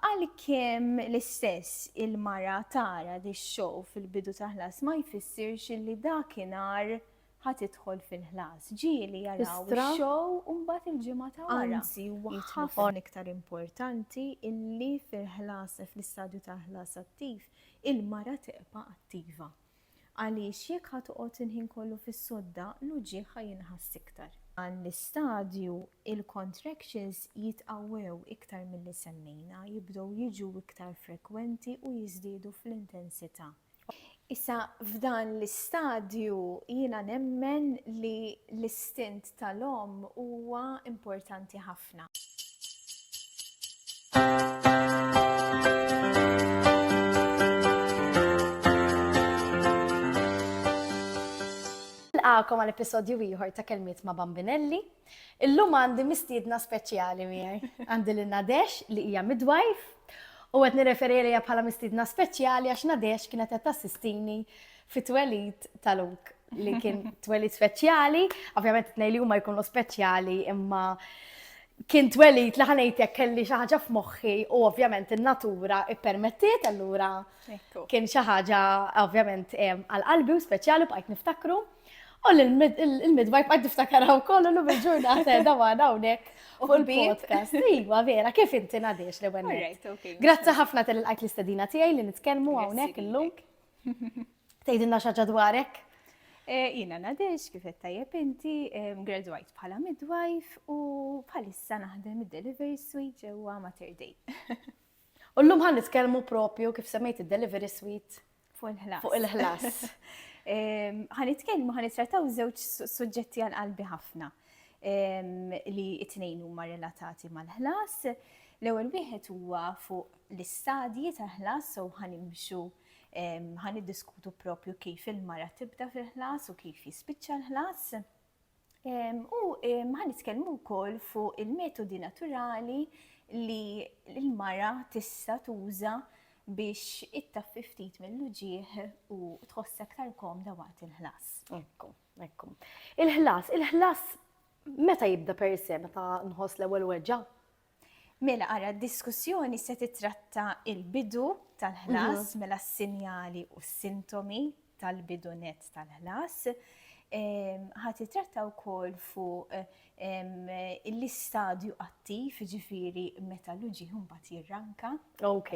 Għalkemm l-istess il-mara tara li x-show fil-bidu ta' ħlas ma jfissirx li dakinhar ħa tidħol fil-ħlas, ġieli jaraw ix-show u mbagħad il-ġimgħa ta' wara. Anzi, huwa ħafna iktar importanti li fil-ħlas, fl-istadju ta' ħlas attiv, il-mara tibqa' attiva. Għaliex jekk ħa toqgħod il-ħin kollu fis-sodda, l-uġigħ ħa jinħass iktar. F'dan l-istadju, il-contractions jitqawwew iktar milli semmejna, jibdew jiġu iktar frekwenti u jiżdiedu fl-intensità. Issa f'dan l-istadju jiena nemmen li l-istint tal-omm huwa importanti ħafna. ħafna. Nilqakom għal episodju ieħor ta' kelmiet ma' Bambinelli. Illum għandi mistiedna speċjali miegħi. Għandi lil Nadesh li hija midwife u qed nirreferi lejha bħala mistiedna speċjali għax Nadesh kienet qed tassistini fit-twelid tal-uk. li kien twelli speċjali, ovvjament t li huma jkunu speċjali imma kien twelli li ħanejtek kelli xi ħaġa f'moħħi u ovvjament in-natura ippermettiet allura kien xi ħaġa ovvjament għal qalbi u speċjali bqajt niftakru. U l-midwife għad niftakaraw kollu l bil-ġurnata da għana unek u l-podcast. Iwa, vera, kif inti nadiex li għennet. Grazzi ħafna tal-għajt l-istadina tijaj li nitkelmu għawnek l-lunk. Tgħidilna xi ħaġa dwarek? Eh, Jina Nadex, kif qed tajjeb inti, graduajt bħala midwife u bħalissa naħdem id-delivery suite ġewwa Mater Dei. U llum ħan nitkellmu propju kif semmejt id-delivery suite fuq il-ħlas. Fuq il-ħlas. Ħan nitkellmu ħan nittrattaw żewġ suġġetti għal qalbi ħafna li it-tnejn huma relatati mal-ħlas. L-ewwel wieħed huwa fuq l-istadji tal-ħlas so ħan imxu Ħa niddiskutu propju kif il-mara tibda fil-ħlas u kif jispiċċa l-ħlas. U ħa nitkellmu wkoll fuq il-metodi naturali li l-mara tista' tuża biex ittaffi ftit mill-uġieħ u tħoss aktar komda waqt il-ħlas. Ekku, ekku. Il-ħlas, il-ħlas meta jibda per se, meta nħoss l-ewwel weġġa? Mela ara d-diskussjoni se titratta il-bidu tal-ħlas, mela s-sinjali u s-sintomi tal-bidu net tal-ħlas. Ħa titratta wkoll fuq l-istadju attiv, ġifiri meta l-uġi mbagħad jirranka. Ok.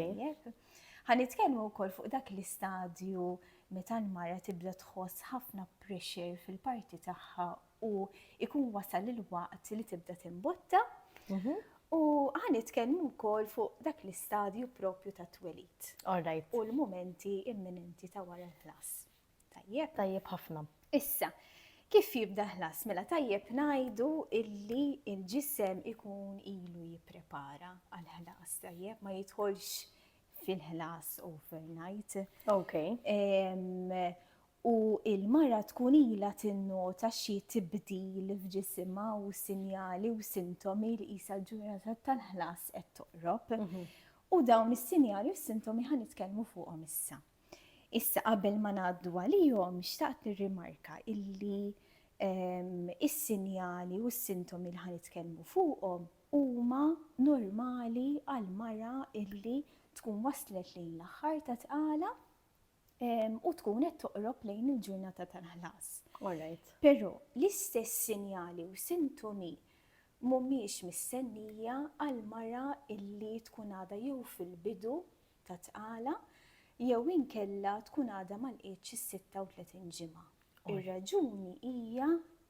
Ħa nitkellmu wkoll fuq dak l-istadju meta l-mara tibda tħoss ħafna pressure fil-parti tagħha u ikun wasal il-waqt li tibda timbotta u għan itkellmu wkoll fuq dak l-istadju propju ta' twelid. Alright. U l-momenti imminenti ta' wara l-ħlas. Tajjeb? Tajjeb ħafna. Issa, kif jibda ħlas? Mela tajjeb ngħidu illi il-ġisem ikun ilu jipprepara għal-ħlas, tajjeb ma jidħolx fil-ħlas overnight. Ok. u l-mara tkun ilha tinnota xi tibdil f'ġisimha u sinjali u sintomi li qisha l-ġurnata tal-ħlas qed toqrob. U dawn is-sinjali u s-sintomi ħa nitkellmu fuqhom issa. Issa qabel ma ngħaddu għalihom xtaqt nirrimarka illi ehm, is-sinjali u s-sintomi li ħa nitkellmu fuqhom huma normali għal mara illi tkun waslet lejn l-aħħar ta' tqala u tkun qed toqrob lejn il-ġurnata tal-ħlas. Alright. Però l-istess sinjali u sintomi mhumiex mistennija għal mara illi tkun għadha jew fil-bidu ta' tqala jew inkella tkun għadha ma lqietx is-36 ġimgħa. Ir-raġuni hija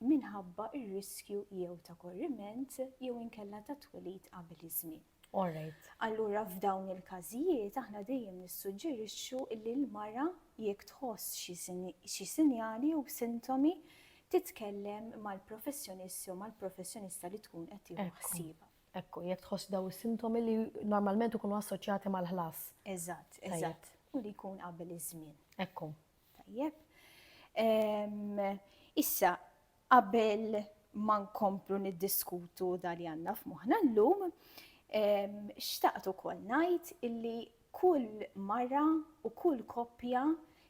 minħabba r-riskju jew ta' korriment jew inkella ta' twelid qabel iż-żmien. Alright. Allura f'dawn il-każijiet aħna dejjem nissuġġerixxu li l-mara jekk tħoss xi sinjali jew sintomi titkellem mal-professjonist jew mal-professjonista li tkun qed tieħu ħsiebha. Ekku, jekk tħoss daw is-sintomi li normalment ikunu assoċjati mal-ħlas. Eżatt, eżatt. U li jkun qabel iż-żmien. Ekku. Tajjeb. Issa, Qabel ma nkomplu niddiskutu da li għandna f'moħħna llum, xtaqt ukoll ngħid illi kull mara u kull koppja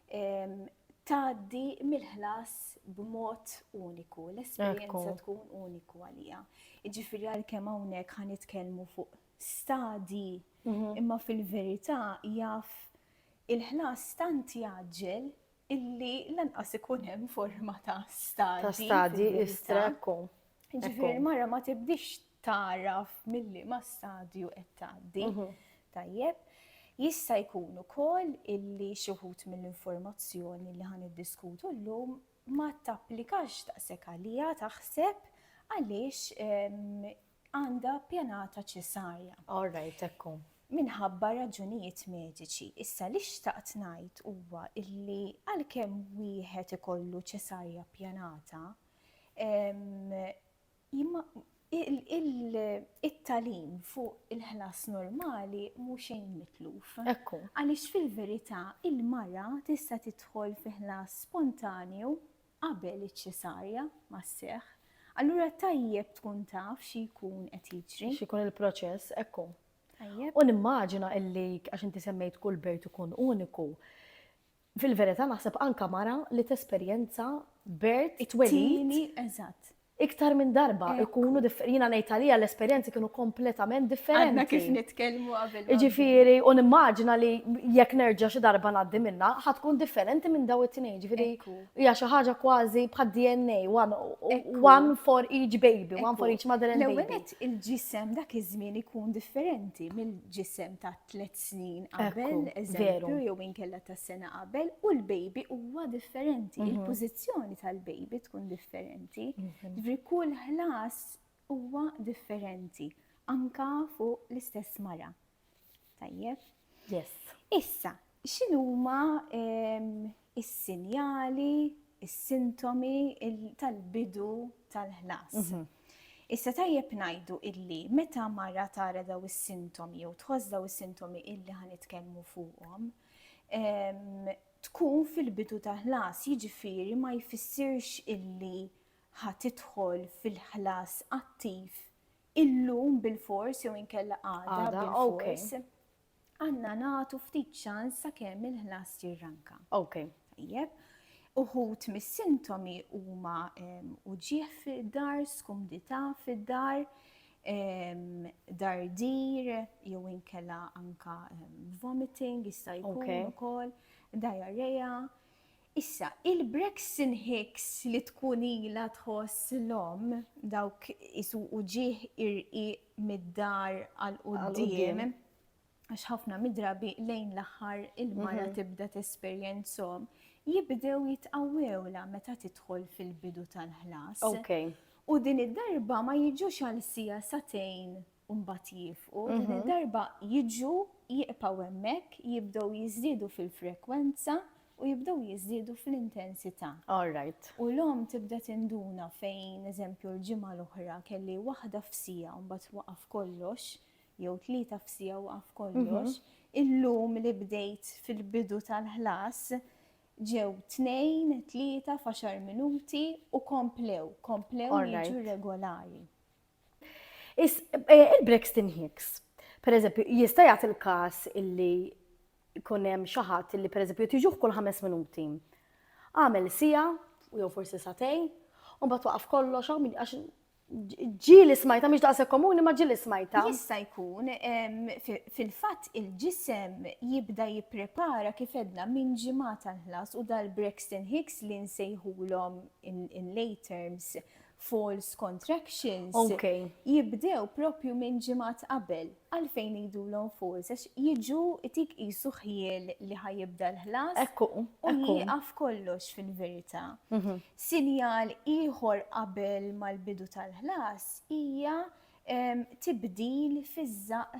tgħaddi mill-ħlas b'mod uniku, l-esperjenza tkun uniku għaliha. Jiġifieri għalkemm hawnhekk ħa nitkellmu fuq stadji, imma fil-verità jaf il-ħlas tant jgħaġġel illi lanqas ikun hemm forma ta' stadi. Ta' stadi istrekku. Ġifieri l-mara ma tibdix taraf milli ma stadju qed tgħaddi. Mhm. Tajjeb. Jista' jkun ukoll illi xi wħud mill-informazzjoni li ħan iddiskutu llum ma tapplikax daqshekk għalija taħseb għaliex ehm, għandha pjanata ċesarja. All right, hekk hu. Minħabba raġunijiet mediċi. Issa li xtaqt ngħid huwa illi għalkemm wieħed ikollu ċesarja pjanata, it-tagħlim fuq il-ħlas normali mhu xejn mitluf. Hekk hu. Għaliex fil-verità il-mara tista' tidħol fi ħlas spontanju qabel iċ-ċesarja ma sseħħ, allura tajjeb tkun taf xi jkun qed jiġri. X'ikun il-proċess, hekk hu. Tajjeb. U nimmaġina illi, għax inti semmejt kull bejt ikun uniku, fil-verità naħseb anke mara li tesperjenza bert it-twelid. It-tieni, eżatt. iktar minn darba ikunu differenti. Jiena ngħid għalija l-esperjenzi kienu kompletament differenti. Għandna kif nitkellmu qabel. Jiġifieri u nimmaġina li jekk nerġa' xi darba ngħaddi minna, ħa tkun differenti minn daw it-tnejn. Jiġifieri hija xi ħaġa kważi bħad DNA, one for each baby, one for each mother and baby. L-ewwel il-ġisem dak iż-żmien ikun differenti mill-ġisem ta' tliet snin qabel, eżempju, jew inkella ta' sena qabel, u l-baby huwa differenti, mhm. il-pożizzjoni tal-baby tkun differenti, mhm. ġifri kull ħlas huwa differenti, anka fuq l-istess mara. Tajjeb? Yes. Issa, X'inhuma s-sinjali, is-sintomi tal-bidu tal-ħlas? Issa tajjeb ngħidu li meta mara tara dawn is-sintomi jew tħoss dawn is-sintomi illi ħa nitkellmu fuqhom, tkun fil-bidu tal-ħlas, jiġifieri ma jfissirx illi ħa tidħol fil-ħlas attiv illum bilfors jew inkella għada bilfors. Għandna nagħtu ftit ċans sakemm il-ħlas jirranka. Ok. Tajjeb. Uħud mis-sintomi huma uġigħ fid-dar, skumdità fid-dar, dardir jew inkella anka vomiting jista' jkun ukoll, diarrhea. Issa, il-Brexin Hicks li tkun ilha tħoss l-omm, dawk isuqu ġieħ irqiq mid-dar għal quddiem, għax ħafna mid-drabi lejn l-aħħar il-mara tibda tesperjenzhom, jibdew jitqawwewlha meta tidħol fil-bidu tal-ħlas. U din id-darba ma jiġux għal siegħa, sagħtejn u mbagħad jiefqu, din id-darba jiġu, jibqgħu hemmhekk, jibdew jiżdiedu fil-frekwenza u jibdew jiżdiedu fl-intensità. All right. U l-omm tibda tinduna fejn, eżempju, l-ġimgħa l-oħra kelli waħda f'siegħa u mbagħad waqaf kollox, jew tlieta f'siegħa waqaf kollox, illum li bdejt fil-bidu tal-ħlas ġew tnejn, tlieta f'għaxar minuti u komplew, komplew jiġu regolari. Is, eh, il-Brixton Hicks, per eżempju, jista' jagħti l-każ illi jkun hemm xi ħadd illi pereżempju tiġuh kull ħames minuti. Għamel sija, jew forsi satej, u mbagħad waqaf kollox għax ġili smajta, miex daqse komuni, ma ġili smajta. Jista' jkun, fil-fatt il-ġisem jibda jipprepara kif edna minn ġimata l-ħlas u dal-Brexton Hicks li nsejħulhom in lay terms false contractions okay. jibdew propju minn ġimgħat qabel għalfejn jidulhom false għax jiġu tik qisu ħjiel li ħajibda l-ħlas ekku u jieqaf kollox fil-verità. Mhm. Sinjal ieħor qabel mal-bidu tal-ħlas hija tibdil fiż-żaq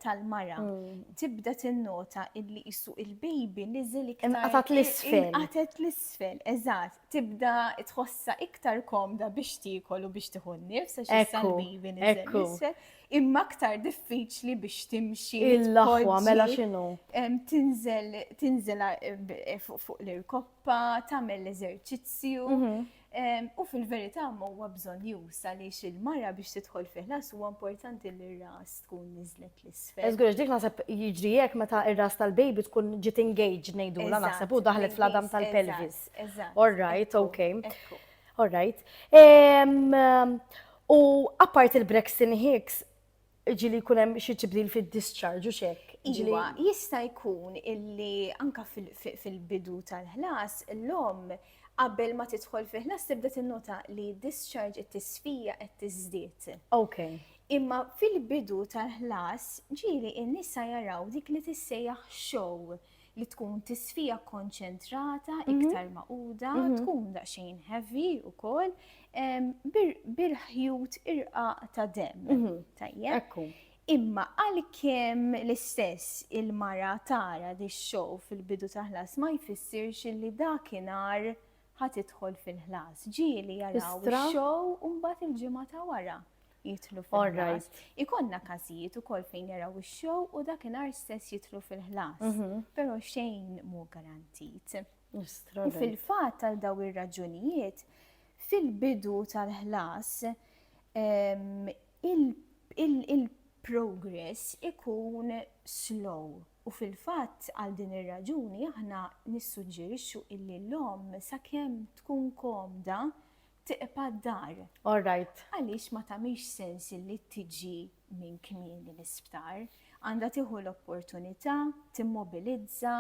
tal-mara. Mm. Tibda tinnota illi jissu il-baby niżel iktar. Inqatat l-isfel. Inqatat l-isfel, eżatt. Tibda tħossa iktar komda biex tiekol u biex tieħu n-nifs għax issa l-baby niżel l-isfel. Imma aktar diffiċli biex timxi. Il-laħwa mela x'inhu? Tinżel eh, fuq l-irkoppa, tagħmel l-eżerċizzju. Mhm. U fil-verità ma huwa bżonn jusa li il-mara biex tidħol fih las huwa importanti li r-ras tkun niżlet l-isfel. Eżgur, dik naħseb jiġri jekk meta r-ras tal-baby tkun ġiet engaged ngħidula naħseb u daħlet fl-adam tal-pelvis. All right, okay. All right. U apart il-Braxton Hicks, Iġi li jkun hemm xi tibdil fid-discharge u x'hekk. Iġiwa, jista' jkun illi anka fil-bidu tal-ħlas l-omm qabel ma tidħol fi ħlas tibda tinnota li discharge qed tisfija qed tiżdied. Ok. Imma fil-bidu tal-ħlas ġieli n-nisa jaraw dik li tissejjaħ show li tkun tisfija konċentrata, mhm. iktar maquda, mhm. tkun daqsxejn heavy u kol, bil-ħjut irqa ta' dem. Mhm. Tajjeb. Imma għal-kem l-istess il-mara tara di show fil-bidu ta' ħlas ma jfissirx li dakinar ħat idħol fil-ħlas. Ġieli jaraw show un-bat il-ġimgħa ta' wara. jitlu fil-ħlas. Ikonna każijiet ukoll fejn jaraw ix-show u dakinhar stess jitlu fil-ħlas. Mhm. Però xejn mu garantit. Fil-fatt għal daw ir-raġunijiet, fil-bidu tal-ħlas il-progress ikun slow u fil-fatt għal din ir-raġuni aħna nissuġġerixxu illi l-om sakemm tkun komda tiqpa' d-dar. All right. Għaliex ma tagħmilx sens li tiġi minn kmieni l-isptar. Għandha tieħu l-opportunità, timmobilizza,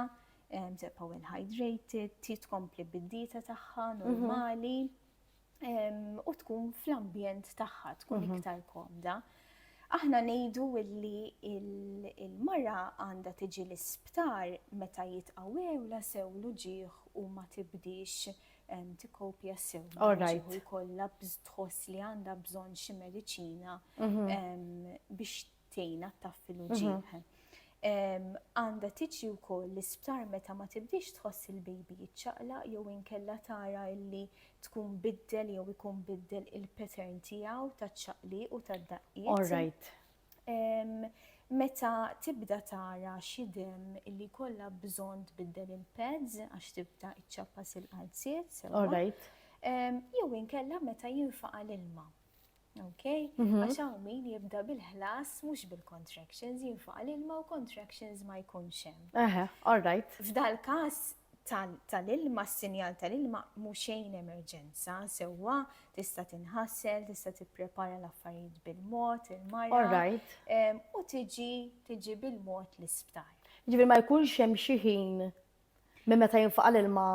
tibqa' well hydrated, tkompli bid-dieta tagħha mhm. normali u tkun fl-ambjent tagħha tkun mhm. iktar komda. Aħna ngħidu illi il-mara għandha tiġi l-isptar meta jitqawewla sew l-uġieħ u ma tibdix tikkopja sew. Alright. Kollha tħoss li għandha bżonn xi mediċina mhm. biex tgħinha taffi l-uġieħ. Mhm. Għanda tiġi wkoll l-isptar meta ma tibdix tħoss il-baby jiċċaqla jew inkella tara illi tkun biddel jew ikun biddel il-pattern tiegħu taċ-ċaqli u tad-daqqiet. All right. Meta tibda tara xi demm illi jkollha bżonn tbiddel il-pads għax tibda iċċappas il-qalziet sewwa. Jew inkella meta jinfaqa' l-ilma. Okay? Mhm. Għax hawn min jibda bil-ħlas mhux bil-contractions, jinfaqa' l-ilma u contractions ma jkunx hemm. Eħe, all right. F'dal-każ tal-ilma, s-sinjal tal-ilma mhu xejn emerġenza, sewwa, tista' tinħasel, tista' tipprepara l-affarijiet bil-mod, il-mara, u tiġi tiġi bil-mod l-isptar. Ġifieri ma jkunx hemm xi ħin minn meta jinfaqa' l-ilma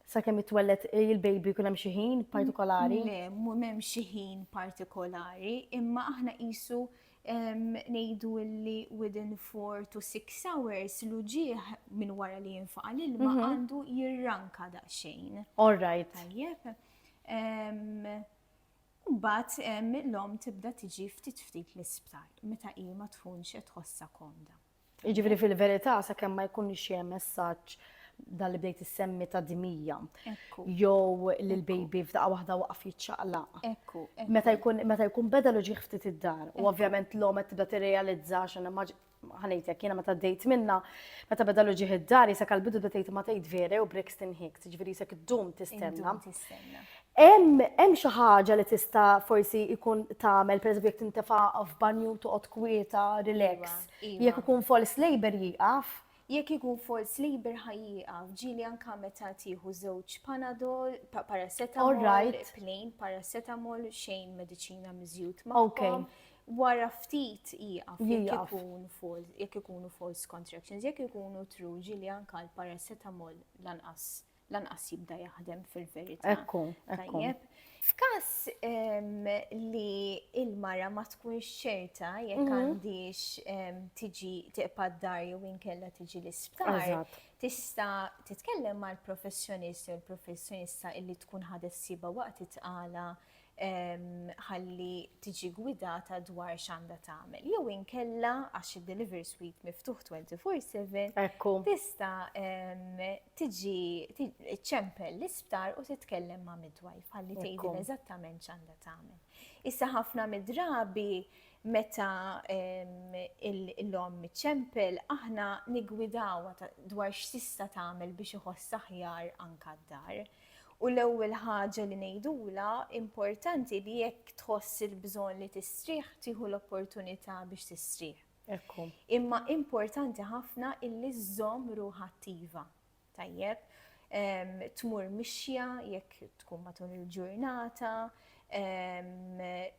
sakemm jitwelled il-baby jkun hemm xi ħin partikolari? Le, m'hemm xi ħin partikolari, imma aħna qisu ngħidu li within 4 to 6 hours l-uġieħ minn wara li jinfaqa l-ilma mhm. għandu jirranka daqsxejn. All right. Tajjeb. Mbagħad l-om tibda tiġi ftit ftit l-isptar meta hi ma tkunx qed tħossha komda. Jiġifieri fil-verità sakemm ma jkun ixie messaġġ dan li bdejt issemmi ta' dimija. Jew li l-baby f'daqqa waħda waqaf jiċċaqlaq. Ekku. Meta jkun meta jkun beda l ġieħ ftit id-dar. U ovvjament l-om qed tibda tirrealizza x'in ħanejtek jiena meta dejt minna, meta beda l ġieħ id-dar jisa kalbidu bda tgħid ma tgħid vera u Brixton Hicks, ġifieri jisek dum tistenna. Hemm hemm xi ħaġa li tista' forsi jkun tagħmel, pereżempju jekk tintefa' f'banju toqgħod kwieta, relax. Jekk ikun false labour jieqaf? Jekk ikun false labour ħa jieqaf. Ġieli anke meta tieħu żewġ panadol, paracetamol, plain paracetamol, xejn mediċina miżjud magħhom. Wara ftit jieqaf jekk ikun false, jekk ikunu false contractions, jekk ikunu true ġieli anke l-paracetamol lanqas. lanqas jibda jaħdem fil-verità. Ekku, ekku. F'każ ehm, li il-mara ma tkunx ċerta jekk mhm. għandix ehm, tiġi tiqpa d-dar jew inkella tiġi l-isptar, tista' titkellem mal-professjonist jew l-professjonista illi tkun ħadet siba waqt it-tqala ħalli tiġi gwidata dwar x'għandha tagħmel. Jew inkella għax id-delivery suite miftuħ 24/7 tista' tiġi ċċempel l-isptar u titkellem ma' midwife ħalli tgħidilha eżattament x'għandha tagħmel. Issa ħafna mid-drabi meta l-omm iċċempel aħna niggwidawha dwar x'tista' tagħmel biex iħossha aħjar anke d-dar. U l-ewwel ħaġa li ngħidulha, importanti li jekk tħoss il-bżonn li tistrieħ, tieħu l-opportunità biex tistrieħ. Hekk hu. Imma importanti ħafna illi żżomm ruħha attiva. Tajjeb, tmur mixja jekk tkun matul il-ġurnata,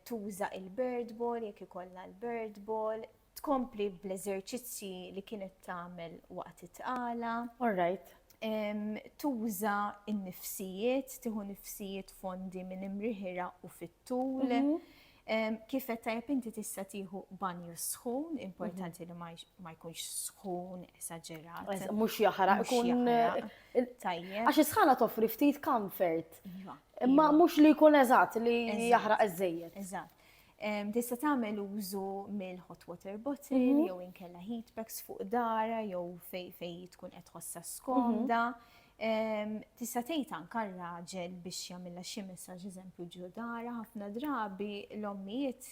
tuża il-bird ball jekk ikollha l-bird ball, tkompli bl-eżerċizzji li kienet tagħmel waqt it-tqala. All right. Tuża n-nifsijiet, tieħu nifsijiet fondi minn imriħira u fit-tul. Mhm. Kif qed tajjeb inti tista' tieħu banju sħun, importanti mhm. li ma jkunx sħun esaġerat. Mhux jaħraq ikun tajjeb. Għax is-sħana toffri ftit comfort. Iva, Imma iva. mhux li jkun eżatt li jaħraq iżejjed. Eżatt. Tista' tagħmel użu mill-hot water bottle mhm. jew inkella heat packs fuq dara jew fej fej tkun qed ħossa skomda. Mhm. Tista' tgħid anke raġel biex jagħmilha xi messaġġ eżempju ġo dara ħafna drabi l-ommijiet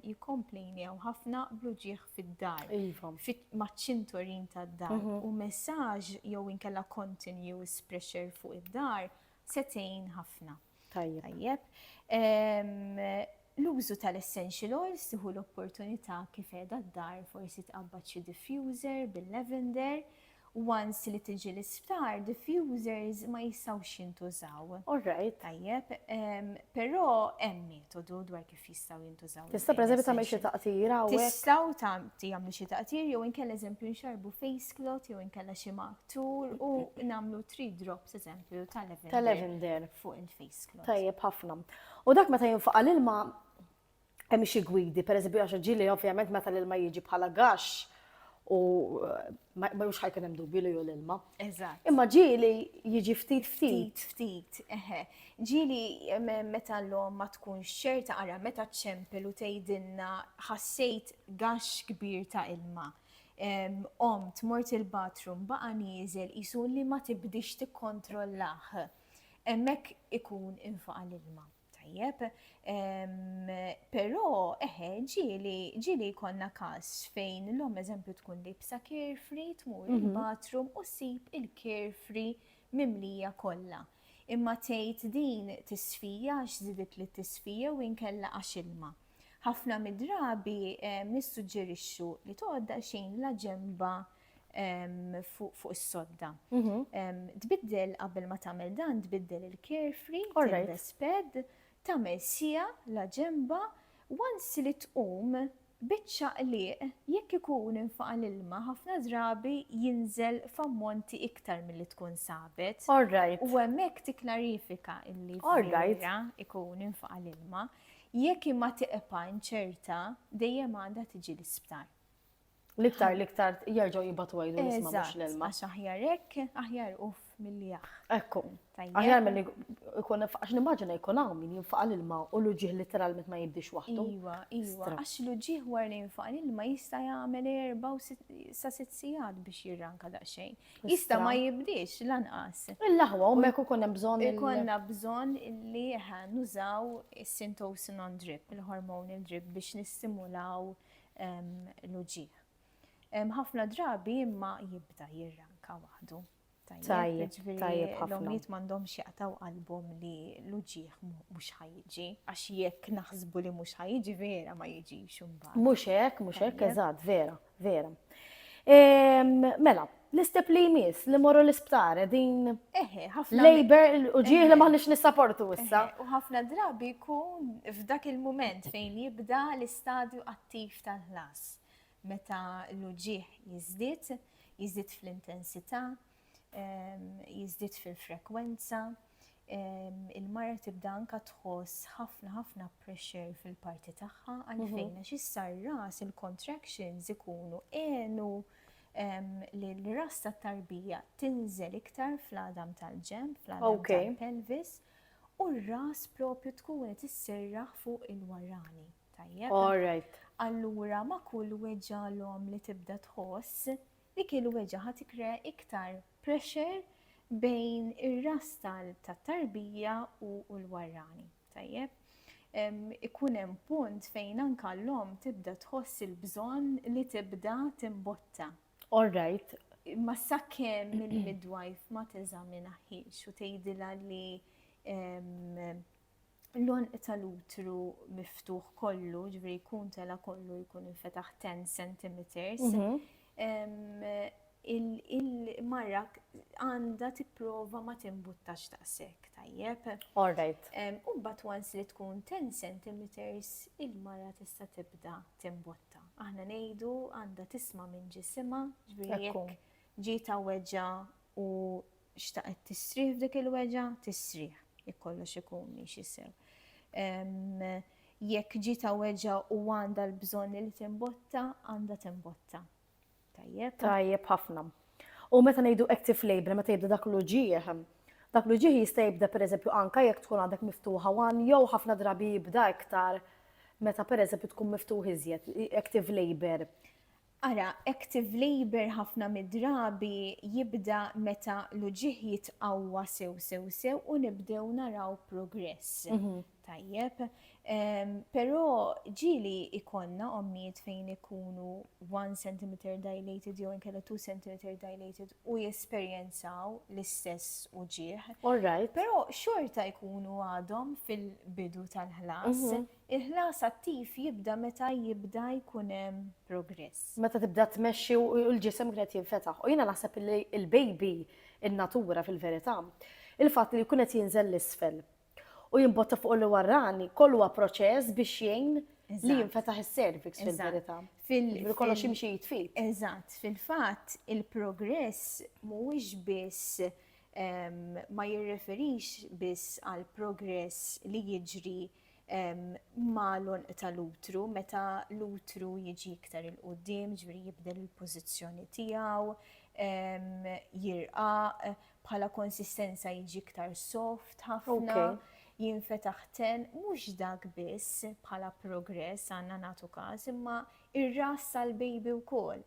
jikkomplejnew ħafna bluġieħ fid-dar. Iva. Maċ-ċinturin tad-dar mhm. u messaġġ jew inkella continuous pressure fuq id-dar setejn ħafna. Tajjeb. Tajjeb. L-użu tal-essential oils tieħu l-opportunità kif qiegħda d-dar forsi tqabbad xi diffuser bil-lavender once li tiġi l-isptar, diffusers ma jistgħux jintużaw. All right. Tajjeb, però hemm metodu dwar kif jistgħu jintużaw. Tista' preżempju tagħmel xi taqtir hawnhekk? Tistgħu tagħmlu xi taqtir jew inkella eżempju nxarbu face cloth jew inkella xi maqtur u nagħmlu three drops eżempju tal-lavender fuq il-face cloth. Tajjeb ħafna. U dak meta jinfaqa' l-ilma hemm xi gwidi, pereżempju għax ġieli ovvjament meta l-ilma jiġi bħala gax u ma mhux ħajkun hemm dubju li hu l-ilma. Eżatt. Imma ġieli jiġi ftit ftit. Ftit, eħe. Ġieli meta l-om ma tkunx ċerta ara meta ċempel u tgħidilna ħassejt gax kbir ta' ilma. Om tmort il-bathroom baqa' nieżel qisu li ma tibdix tikkontrollah. Hemmhekk ikun infaqa l-ilma. Tajjeb, però eħe ġieli ġieli jkollna każ fejn l-om eżempju tkun libsa carefree tmur mhm. il-bathroom u ssib il-carefree mimlija kollha. Imma tgħid din tisfija għax żidet li tisfija u inkella għax ilma. Ħafna mid-drabi nissuġġerixxu li tgħodda xejn la ġemba fuq is-sodda. Mhm. Tbiddel qabel ma tagħmel dan, tbiddel il-carefree, tilbes pad, tagħmel sija la ġemba, once li tqum biċċa qliq jekk ikun infaqa' l-ilma ħafna drabi jinżel f'ammonti iktar milli tkun sabet. Alright. U hemmhekk tikklarifika illi vera ikun infaqa' l-ilma. Jekk imma tiqpa' inċerta, dejjem għandha tiġi l-isptar. L-iktar, l-iktar jarġaw jibatu għajdu nisma mux l-elma. Għax aħjar ek, aħjar uff mill-li jaħ. Ekku. Aħjar mill-li ikun, għax nimmaġina jkun għaw minn jinfaqa l-ilma u l-ġiħ literalment ma jibdix waħdu. Iwa, iwa, għax l-ġiħ war li jinfaqa l-ilma jista jgħamil erba u sa sitt sijad biex jirranka daqxejn. Jista ma jibdix lanqas. Il-laħwa, u meku kunem bżon. Ikonna bżon li nużaw il-sintosin on drip, il-hormon il-drip biex nistimulaw il l-uġigħ. Ħafna drabi imma jibda jirranka waħdu. Tajjeb, tajjeb ħafna. L-omijiet m'għandhomx jaqtaw qalbhom li l-uġieħ mhux ħajġi, għax jekk naħsbu li mhux ħajġi vera ma jiġix imbagħad. Mhux hekk, mhux hekk, eżatt, vera, vera. Mela, L-istep li jmiss li morru l-isptar qegħdin labor u ġieħ li maħniex nissaportu issa. U ħafna drabi jkun f'dak il-mument fejn jibda l-istadju attiv tal-ħlas. Meta l-uġieħ jiżdied, jiżdied fl-intensità, ehm, jiżdied fil-frekwenza. il-mara tibda anka tħoss ħafna ħafna pressure fil-parti tagħha għalfejn għax issa r-ras il-contractions ikunu għenu li l-ras tat-tarbija tinżel iktar fl-għadam tal-ġenb, fl-għadam tal-pelvis, u r-ras propju tkun qed isserraħ fuq il-warani. Tajjeb. All right. Allura ma kull weġġalhom li tibda tħoss Dik il-weġgħa ħa tikkrea iktar pressure bejn ir-ras tat-tarbija u l-warrani. Tajjeb? Ikun hemm punt fejn anke l-omm tibda tħoss il-bżonn li tibda timbotta. All right. Imma sakemm il-midwife ma teżaminahiex u tgħidilha li l-għonq tal-utru miftuħ kollu, ġveri jkun tela kollu jkun infetaħ 10 cm, mhm. il-marra għanda tipprova ma timbuttax taqsek, tajjeb. All right. U bat once li tkun 10 cm il-marra tista' tibda timbutta. Aħna ngħidu għandha tisma' minn ġisimha, ġveri jekk ġita weġa u xtaqet tistrieħ f'dik il-weġgħa, tistrieħ, jekk kollox ikun miexi sew. Jekk ġita weġgħa u għandha l-bżonn li timbotta, għandha timbotta. Tajjeb. Tajjeb ħafna. U meta ngħidu active labor, meta jibda dak l-uġieħ, dak l-uġieħ jista' jibda pereżempju anka jekk tkun għandek miftuħa wan jew ħafna drabi jibda iktar meta pereżempju tkun miftuħ iżjed active labor. Ara, active labour ħafna mid-drabi jibda meta l-uġigħ jitqawwa sew sew sew u nibdew naraw progress. Tajjeb. Però ġieli jkollna ommijiet fejn ikunu one centimeter dilated jew inkella two centimeter dilated u jesperjenzaw l-istess uġigħ. All right. Però xorta jkunu għadhom fil-bidu tal-ħlas. Il-ħlas attiv jibda meta jibda jkun hemm progress. Meta tibda tmexxi u l-ġisem qed jinfetaħ. U jiena naħseb li l-baby, in-natura fil-verità, il-fatt li jkun qed jinżel 'l isfel u jimbotta fuq li warrani, kollu huwa proċess biex jgħin li jinfetaħ is-cervix fil-verità. Jiġifieri kollox jimxi id f'id. Eżatt. Fil-fatt, il-progress mhuwiex biss, ma jirreferix biss għall-progress li jiġri ma' l-għonq tal-utru, meta l-utru jiġi iktar 'il quddiem, jiġifieri jibdel il-pożizzjoni tiegħu, jirqaq, bħala konsistenza jiġi iktar soft ħafna, jinfetaħ ten, mhux dak biss bħala progress għandna nagħtu każ, imma r-ras tal-baby wkoll.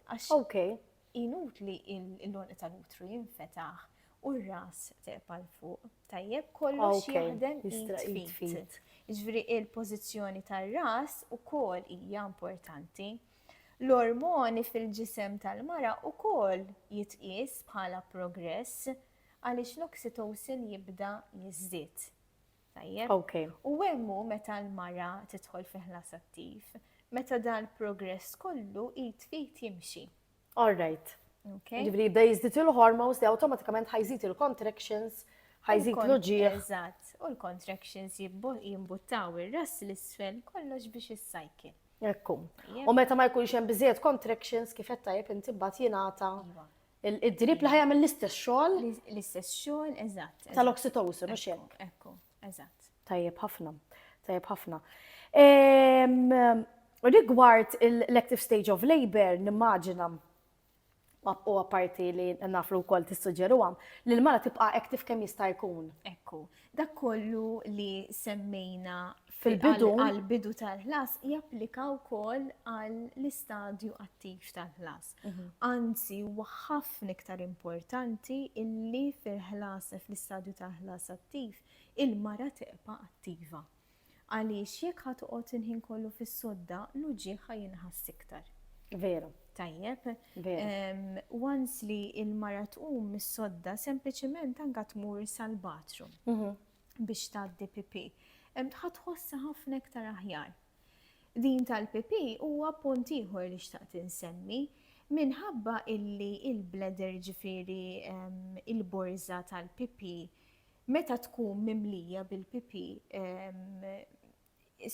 Inutli l-għonq tal-utru jinfetaħ u r-ras terpa' 'l fuq. Tajjeb? Kollox jaħdem id f'id. Jiġifieri l-pożizzjoni tar-ras ukoll hija importanti. L-ormoni fil-ġisem tal-mara ukoll jitqies bħala progress għaliex l-oxytocin jibda jiżdied. Tajjeb. Okay. U hemm hu meta l-mara tidħol fi ħlas attiv, meta dan progress kollu id fit jimxi. All right. Okay. Ġibri jibda jizdit il-hormones li automatikament ħajżit il-contractions, ħajżit l-ġieħ. Eżatt, u l-contractions jimbuttaw ir-ras l-isfel kollox biex is-cycle. Ekku. U meta ma jkunx hemm biżejjed contractions kif qed tajjeb inti mbagħad jingħata iva. Id-drib li ħajamel l-istess xogħol. L-istess xogħol, eżatt. Tal-oxytocin, u xek. Ekku, eżatt. Tajjeb ħafna, tajjeb ħafna. Ehm, rigward l-active stage of labor, nimmaġina u għaparti li naflu kol tissuġeru għam, li l-mara tibqa active kem jista' jkun. Ekku, dak kollu li semmejna fil-bidu għal-bidu tal-ħlas japplika wkoll għall-istadju attiv tal-ħlas. Anzi huwa ħafna iktar importanti illi fil-ħlas fl-istadju tal-ħlas attiv il-mara tibqa' attiva. Għaliex jekk ħa toqgħod il-ħin kollu fis-sodda, l-uġigħ ħa jinħass iktar. Veru. Tajjeb. Once li il-mara tqum mis-sodda sempliċement anka tmur sal-bathroom biex tgħaddi pipi. Ħa tħossha ħafna iktar aħjar. Din tal-PP huwa punt ieħor li xtaqt insemmi, minħabba illi il-bladder jiġifieri il-borża tal-PP meta tkun mimlija bil-PP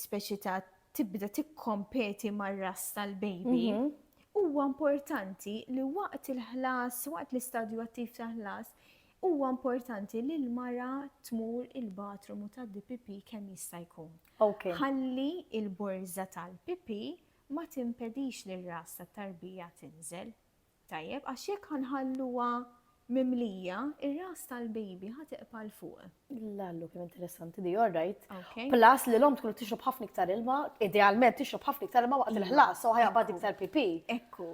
speċi ta' tibda tikkompeti mar-ras tal-baby, huwa importanti li waqt il-ħlas, waqt l-istadju attiv ta' ħlas, huwa importanti li l-mara tmur il-bathroom u tgħaddi PP kemm jista' jkun. Ħalli l-borża tal-PP ma timpedix li r-ras tat-tarbija tinżel. Tajjeb, għax jekk ħa nħalluha mimlija, ir-ras tal-baby ħa tiqpa' 'l fuq. L-allu kemm interessanti di, alright. Plus li l-omm tkun qed tixrob ħafna iktar ilma, idealment tixrob ħafna iktar ilma waqt il-ħlas, so ħa jaqbad iktar PP. Ekku.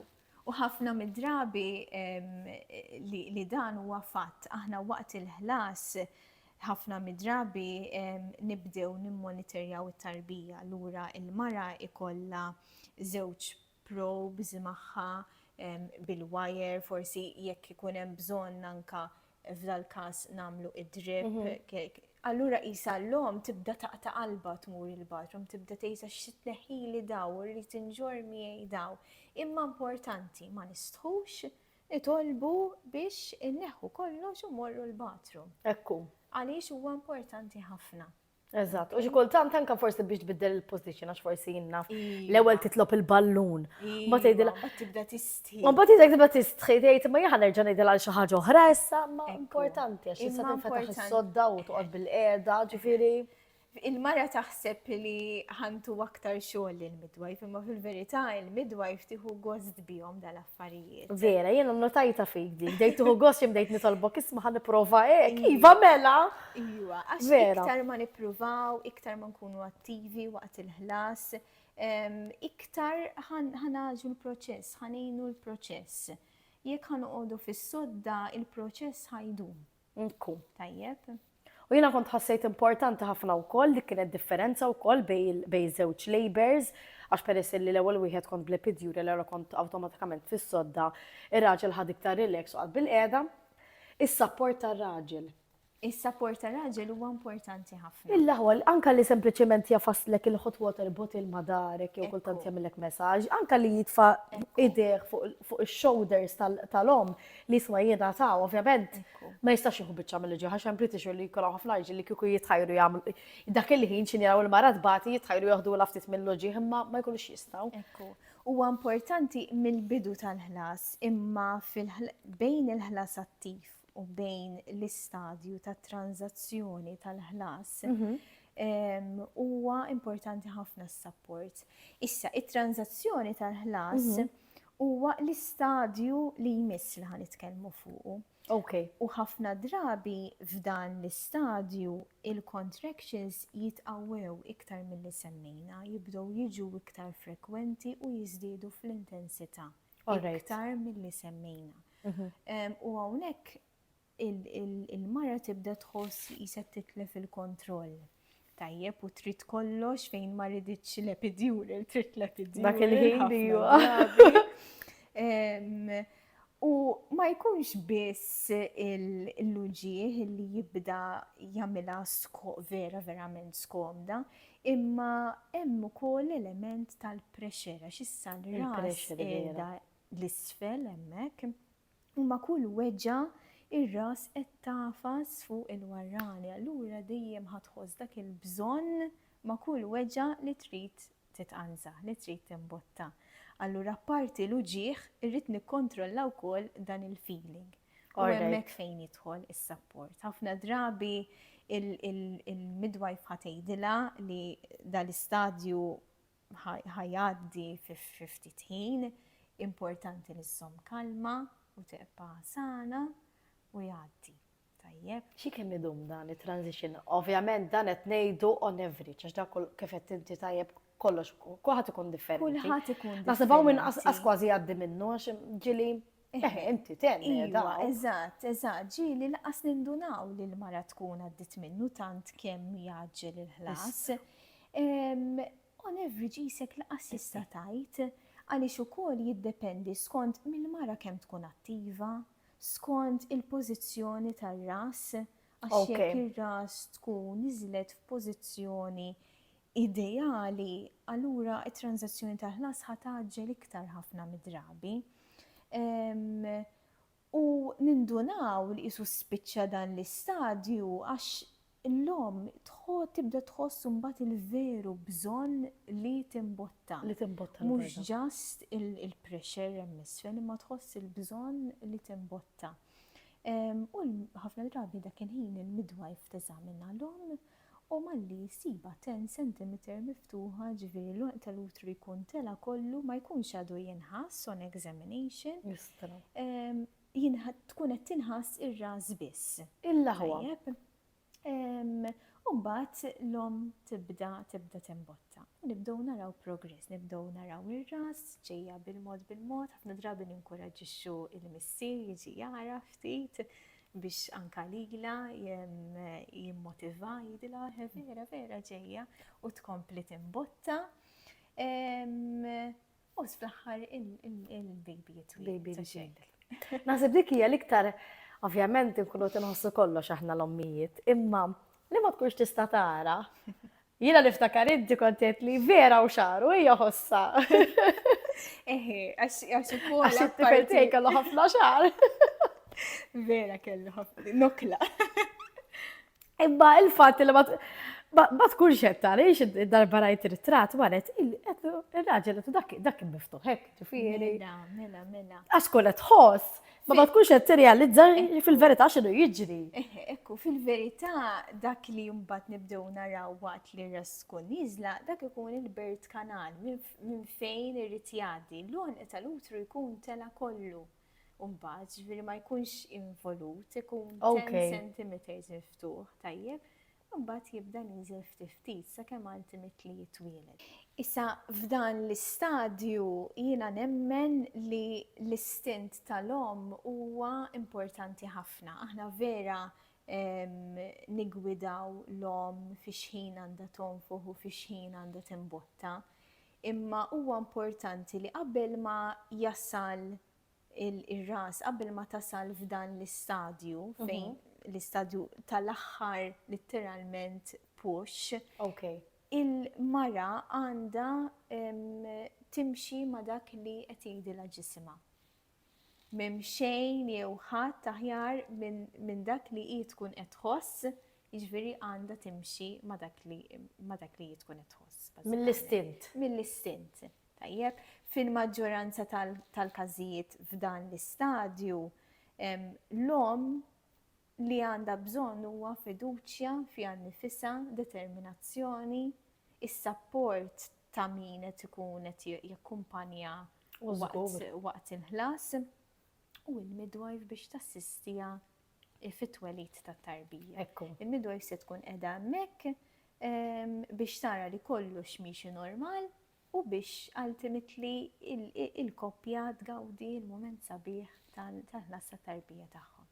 U ħafna mid-drabi li dan huwa fatt, aħna waqt il-ħlas ħafna mid-drabi nibdew nimmonitorjaw it-tarbija. Allura l-mara jkollha żewġ probes magħha bil-wire, forsi jekk ikun hemm bżonn anke f'dal-każ nagħmlu id-drip, allura qisha l-omm tibda taqta' qalbha tmur il-bathroom, tibda tgħidha x'se tneħħili dawn, irrid inġorr miegħi dawn. Imma importanti ma nistħux nitolbu biex inneħħu kollox u mmorru l-bathroom. Hekk hu. Għaliex huwa importanti ħafna. Eżatt, u xi kultant anke forsi biex tbiddel il-position għax forsi jinna iva. l-ewwel titlob il-ballun. Ma tgħidilha. Iva, tibda tistħi. Ma mbagħad tgħidek tibda tistħi tgħid ma jaħa nerġa' ngħidilha għal xi ħaġa oħra issa, ma importanti għax issa tinfetaħ is-sodda u toqgħod bil-qiegħda, ġifieri. Il-mara taħseb li ħantu aktar xogħol il-midwife, imma fil-verità il-midwife tieħu gost bihom dal affarijiet. Vera, jena notajta fik dik, dejt tuħu gost jim dejt nitolbok isma ħan niprofa ek, iva, iva mela. Iva, għax iktar ma niprovaw, iktar ma nkunu attivi waqt il-ħlas, iktar ħanaġu l-proċess, ħanejnu l-proċess. Jek ħanuqodu fis-sodda, il-proċess ħajdum. Nkun tajjeb. U jiena kont ħassejt importanti ħafna wkoll li kienet differenza wkoll bej żewġ labors, għax peress li l-ewwel wieħed kont bl-epidjuri l kont awtomatikament fis-sodda, ir-raġel ħad iktar relax u bil-qiegħda. Is-sapport tar-raġel. Is-sapport tar-raġel huwa importanti ħafna. Illa ħol, anka li sempliċement jafaslek il-hot water bottle ma darek jew kultant jagħmilek messaġġ, anka li jitfa' idejh fuq ix-shoulders tal-om, L-isma jingħataw, ovvjament, ma jistax jieħu biċċa mill-ġieħ għax hemm British li jkollhom ħafna ġil li kieku jitħajru jagħmlu. Dak il-ħin xi jaraw il-mara tbati jitħajru joħdu l ftit mill-ġieħ imma ma jkunux jistgħu. Ekku. Huwa importanti mill-bidu tal-ħlas imma bejn il-ħlas attiv u bejn l-istadju tat tranzazzjoni tal-ħlas mhm. huwa importanti ħafna s-sapport. Issa, it-tranzazzjoni tal-ħlas mhm. huwa l-istadju li jmiss li ħa nitkellmu fuqu. Okay. U ħafna drabi f'dan l-istadju il-contractions jitqawwew iktar mill-li semmejna, jibdow jiġu iktar frekwenti u jizdiedu fl-intensità. Iktar mill-li semmejna. Mhm. U għawnek il-mara tibda tħoss li qisha titlef il-kontroll. Tajjeb u trid kollox fejn ma riditx l-epidural, trid l-epidural. Dak il-ħin li U ma jkunx biss il-luġieħ li jibda jagħmilha sko vera verament skomda, imma hemm ukoll element tal-pressure għax issa l-ras l-isfel hemmhekk. u ma' kull weġgħa r-ras qed tagħfas fuq il-warrani, allura dejjem ħa tħoss dak il-bżonn ma' kull weġgħa li trid titqanża, li trid timbotta. Allura apparti l-uġigħ irrid nikkontrolla wkoll dan il-feeling. U hemmhekk fejn jidħol is-sapport. Ħafna drabi il-midwife ħa tgħidilha li dal-istadju ħa jgħaddi fi ftit ħin, importanti li żżomm kalma u tibqa' sana u jgħaddi. Tajjeb. Xi kemm idum dan it-transition? Ovvjament dan qed ngħidu on average, għax dak kif qed inti tajjeb kollox, kulħadd ikun differenti. Kulħadd ikun differenti. Naħseb hawn minn qas kważi jgħaddi minnu għax ġieli Eh, inti tenni iva, da. Eżatt, eżatt, ġili laqas nindunaw li l-mara tkun għaddit minnu tant kemm jaġġel il-ħlas. On average jisek laqas jista' tajt għaliex ukoll jiddependi skont mill-mara kemm tkun attiva, skont il-pożizzjoni tar-ras, għax jekk ir-ras tkun iżlet f'pożizzjoni ideali, allura t-tranżazzjoni tal-ħlas ħa tgħaġġel iktar ħafna mid-drabi. U nindunaw li qisu spiċċa dan l-istadju għax l-omm tibda tħoss imbagħad il-veru bżonn li timbotta. Li timbotta. Mhux ġast il-pressure hemm isfel imma tħoss il-bżonn li timbotta. U ħafna drabi dak il-ħin il-midwife teżamina l-omm u malli jsibha ten centimeter miftuħa ġifieri l-għonq tal-utru jkun tela' kollu ma jkunx għadu jinħass on examination tkun qed tinħass ir-ras biss. Il-laħwa. U mbagħad l-omm tibda tibda timbotta. U nibdew naraw progress, nibdew naraw ir-ras ġejja bil-mod bil-mod, ħafna drabi ninkuraġġixxu il-missier jiġi jara ftit biex anka lila jimmotiva jidila vera vera ġejja u tkompli timbotta. U fl-aħħar il-baby jitwil. Naħseb dik hija l-iktar ovvjament inkunu tinħossu kollox aħna l-ommijiet, imma li ma tkunx tista' tara Jiena niftakar inti kont tgħid li vera u xaru hija ħossa. Eħe, għax ukoll. Għax it-tifel tiegħi kellu ħafna xar. Vera kellu ħafna nokla. Imma il-fatt li ma tkunx qed tarix id-darba rajt ritratt maret il-raġel dak dak miftuħek, ġifieri. Mela, mela, mela. Għax kol qed ħoss Ma ma tkunx qed tirrealizza fil-verità x'inhu jiġri. Eh, ekku, fil-verità dak li mbagħad nibdew naraw waqt li resku niżla, dak ikun il-bird kanal minn fejn irid jgħaddi. L-għonq tal-utru jkun tela kollu. Umbagħad ġifieri ma jkunx involut, ikun 10 centimeters miftuħ, tajjeb. Imbagħad jibda nieżel ftit ftit sakemm għand imit li jitwieled. Issa f'dan l-istadju jiena nemmen li l-istint tal-omm huwa importanti ħafna. Aħna vera niggwidaw l-omm fi x'ħin għandha tonfoħ u fi x'ħin għandha timbotta. Imma huwa importanti li qabel ma jasal ir-ras qabel ma tasal f'dan l-istadju fejn l-istadju tal-aħħar litteralment push. Okay. Il-mara għandha timxi ma' dak li qed jgħidilha ġisimha. Mem xejn jew ħadd aħjar minn dak li hi tkun qed tħoss, jiġifieri għandha timxi ma' dak li hi tkun qed tħoss. Mill-istint. Mill-istint. Tajjeb, fil-maġġoranza tal-każijiet f'dan l-istadju, l-omm li għandha bżonn huwa fiduċja fiha nnifisha, determinazzjoni, is-sapport ta' min qed ikun qed jakkumpanjaha waqt il-ħlas, u l-midwife biex tassistiha fit-twelid tat-tarbija. Il-midwife se tkun qiegħda hemmhekk biex tara li kollox miexi normal, u biex ultimately il-koppja tgawdi l-mument sabiħ tal-ħlas tat-tarbija tagħhom.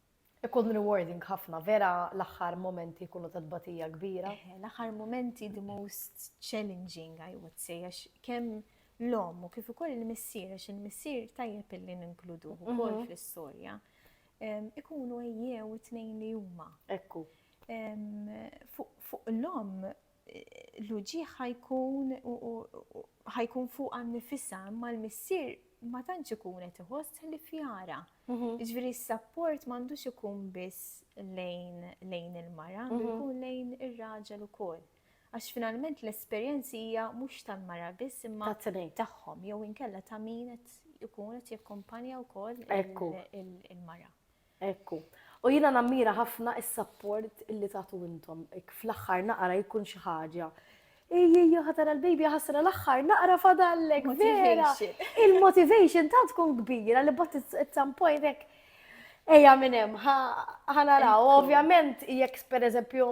Ikun rewarding ħafna, vera l-aħħar mumenti jkunu ta' tbatija kbira. Eħe, l-aħħar mumenti the most challenging I would say għax kemm l-omm u kif ukoll il-missier għax il-missier tajjeb illi ninkluduh mhm. ukoll fl-istorja ikunu ejjew it-tnejn li huma. Ekku. Fuq l-omm l-uġigħ ħa jkun ħa jkun fuqha nnifisha, imma l-missier ma tantx ikun qed iħoss ħlief jara. Jiġifieri s-sapport m'għandux ikun biss lejn lejn il-mara, għandu jkun lejn ir-raġel ukoll. Għax finalment l-esperjenzi hija mhux tal-mara biss imma tagħhom jew inkella ta' min qed ikun qed jakkumpanja wkoll il-mara. Hekk hu. U jiena nammira ħafna s-sapport li tagħtu intom. Hekk fl-aħħar naqra jkun xi ħaġa. Ejjejja ħa tara l-baby jaħasra l-aħħar naqra fadallek vera. Il-motivation tant tkun kbira li bot at some point hekk ejja minn hemm ħa naraw. Ovvjament jekk pereżempju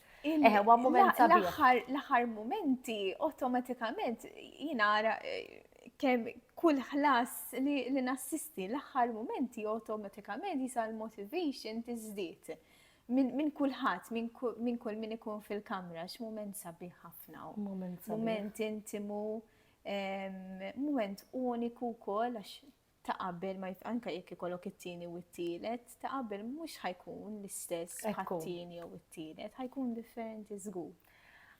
Eħwa, moment sabiħ. L-aħħar momenti automatikament jinara eh, kemm kull ħlas li nassisti l-aħħar momenti automatikament jisa l-motivation tiżdied minn kulħadd, minn kull min ikun fil-kamra, x'mument sabiħ ħafna. Moment intimu, moment uniku wkoll għax ta' qabel ma jif anke jekk ikollok it-tieni u t-tielet, ta' qabel mhux ħa jkun l-istess Ekku. bħat-tieni jew it-tielet, ħa jkun differenti żgur.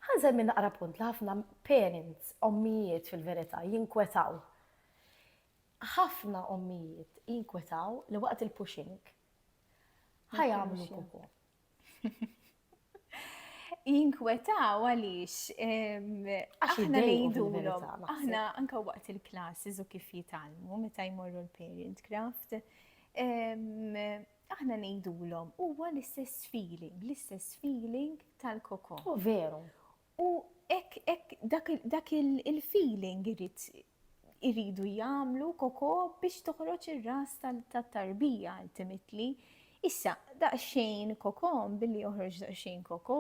Ħa nżemmi naqra punt li ħafna parents, ommijiet fil-verità, jinkwetaw. Ħafna ommijiet jinkwetaw li waqt il-pushing ħa jagħmlu pupu. jinkwetaw għaliex aħna ngħidulhom. Aħna anka waqt il-classes u kif jitalmu meta jmorru l-parent craft. Aħna ngħidulhom huwa l-istess feeling, l-istess feeling tal-koko. U veru. U hekk hekk dak dak il-feeling irid iridu jagħmlu koko biex toħroġ ir-ras tat-tarbija ultimately. Issa, daqsxejn koko, billi joħroġ daqsxejn koko,